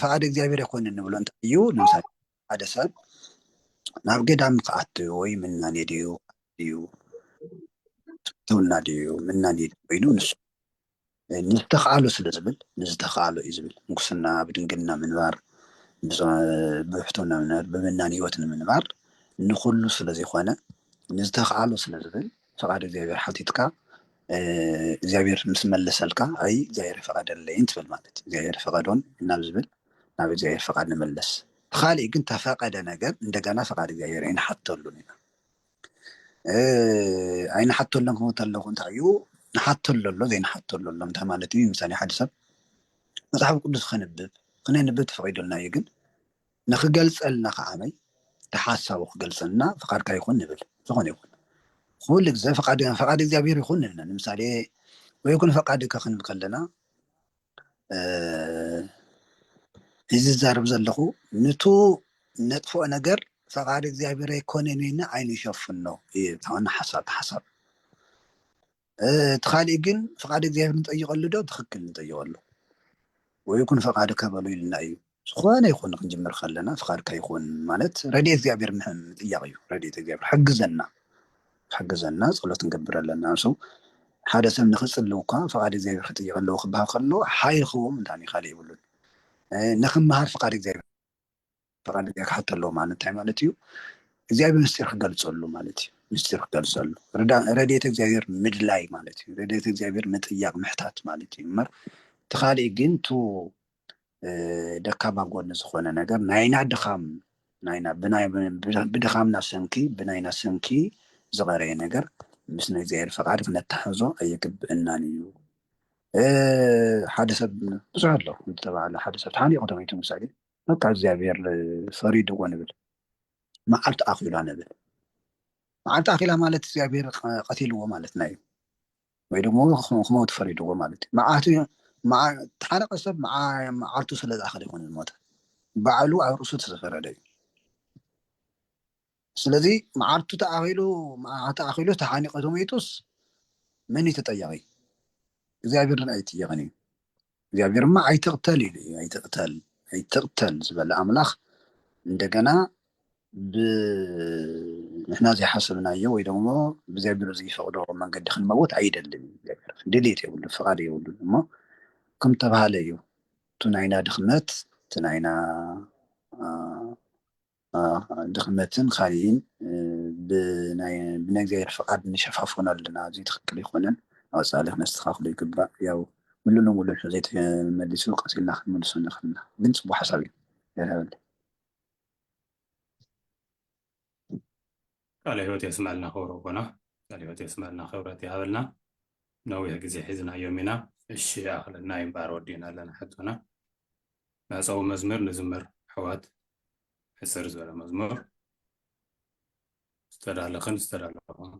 ፈቃድ እግዚኣብሔር ኣይኮንን ንብሎ እንታይ እዩ ንምሳሌ ሓደ ሰብ ናብ ገዳም ክኣት ወይ ምናኔ ድዩ ድዩ ትውና ድዩ ምናኔ ኮይኑ ንሱ ንዝተኸኣሎ ስለ ዝብል ንዝተኸኣሎ እዩ ዝብል ምንኩስና ብድንግልና ምንባር ብሕቶና ምንባር ብምናን ህይወት ንምንባር ንኹሉ ስለ ዘይኮነ ንዝተኸኣሎ ስለ ዝብል ፍቓድ እግዚኣብሔር ሓቲትካ እግዚኣብሔር ምስ መለሰልካ ኣይ እግዚኣብሔር ፈቐደለይን ትብል ማለት እዩ እግዚኣብሔር ፈቐዶን ናብ ዝብል ናብ እግዚኣብሔር ፈቓድ ንመለስ ተኻሊእ ግን ተፈቐደ ነገር እንደገና ፈቓድ እግዚኣብሔር ኣይንሓተሉን ኢና ኣይንሓተሎም ክመት ኣለኹ እንታይ እዩ ንሓተሎ ኣሎ ዘይንሓተሎ ኣሎ እንታይ ማለት እዩ ምሳሌ ሓደ ሰብ መፅሓፍ ቅዱስ ከንብብ ክነንብብ ተፈቂዶልና እዩ ግን ንክገልፀልና ከዓመይ ተሓሳቡ ክገልፀልና ፍቃድካ ይኹን ንብል ዝኾነ ይኹን ኩሉ ግዜ ፍቃድ እግዚኣብሔር ይኹን ንብለ ንምሳሌ ወይኩን ፈቃድካ ክንብል ከለና እዚ ዝዛረብ ዘለኹ ንቱ ነጥፍኦ ነገር ፈቃድ እግዚኣብሔር ኣይኮነን ኢልና ዓይኑ ይሸፍን ነው ተሆነ ሓሳብ ሓሳብ እቲ ካሊእ ግን ፈቃድ እግዚኣብሔር ንጠይቀሉ ዶ ትክክል ንጠይቀሉ ወይ ይኩን ፈቃድካ በሉ ኢልና እዩ ዝኾነ ይኹን ክንጅምር ከለና ፍቃድካ ይኹን ማለት ረድኤት እግዚኣብሔር ምጥያቅ እዩ ረድኤት እግዚኣብሔር ሓግዘና ሓግዘና ጸሎት ክንገብር ኣለና ንሱ ሓደ ሰብ ንክጽልው እኳ ፍቃድ እግዚኣብሔር ክጥይቅ ኣለዎ ክበሃል ከሎ ሓይል ክህቦም እንታይ ካልእ ይብሉን ንክመሃር ፍቃድ እግዚኣብሔር ፍቃድ እግዚኣብሔር ክሓቶ ኣለዎ ማለት እንታይ ማለት እዩ እግዚኣብሔር ምስጢር ክገልጸሉ ማለት እዩ ምስጢር ክገልጸሉ ረድኤት እግዚኣብሔር ምድላይ ማለት እዩ ረድኤት እግዚኣብሔር ምጥያቅ ምሕታት ማለት እዩ እምበር እቲ ካልእ ግን ቱ ደካማ ጎኒ ዝኾነ ነገር ናይና ድኻም ናይና ብድኻምና ሰንኪ ብናይና ሰንኪ ዝቐረየ ነገር ምስ ናይ እግዚኣብሔር ፈቃድ ክነተሓሕዞ ኣይግብእናን እዩ ሓደ ሰብ ብዙሕ ኣሎ ዝተባሃለ ሓደ ሰብ ተሓኒቑ ተመይቱ ምሳሌ በቃ እግዚኣብሔር ፈሪድዎ ንብል መዓልቲ ኣኺሏ ንብል መዓልቲ ኣኺላ ማለት እግዚኣብሔር ቀቲልዎ ማለትና እዩ ወይ ደሞ ክመውት ፈሪድዎ ማለት እዩ መዓቱ ተሓረቀ ሰብ መዓልቱ ስለ ዝኣኸለ ይኮነ ዝሞተ ባዕሉ ኣብ ርእሱ ተዘፈረደ እዩ ስለዚ መዓልቱ ተኣኺሉ ተኣኺሉ ተሓኒቀ ተመይጡስ መን እዩ ተጠያቂ እግዚኣብሔር ድን ኣይጥየቅን እዩ እግዚኣብሔር ድማ ኣይትቕተል ኢሉ እዩ ኣይትቕተል ኣይትቕተል ዝበለ ኣምላኽ እንደገና ብንሕና ዘይሓሰብናዮ ወይ ደሞ ብእግዚኣብሔር ዘይፈቕዶ መንገዲ ክንመውት ኣይደልን እዩ እግዚኣብሔር ድሌት የብሉ ፍቓድ የብሉ እሞ ከም ተባሃለ እዩ እቲ ናይና ድኽመት እቲ ናይና ድኽመትን ኻሊእን ብነግዚኣብሔር ፍቃድ ንሸፋፍኖ ኣለና እዙይ ትኽክል ኣይኮነን ኣወፃእሊ ክነስተኻኽሎ ይግባእ ያው ሙሉ ንሙሉ ዘይተመሊሱ ቀፂልና ክንመልሶ ንኽእል ኢና ግን ፅቡቅ ሓሳብ እዩ ያዳበለ ቃለ ህይወት የስመዐልና ክብሮ ኣቦና ቃለ ህይወት የስመዐልና ክብረት ይሃበልና ነዊሕ ግዜ ሒዝናዮም ኢና እሺ ይኣኽለና ይምበኣር ወዲእና ኣለና ሕቶና ናጻዊ መዝምር ንዝመር ኣሕዋት ሕጽር ዝበለ መዝሙር ዝተዳለኽን ዝተዳለኹም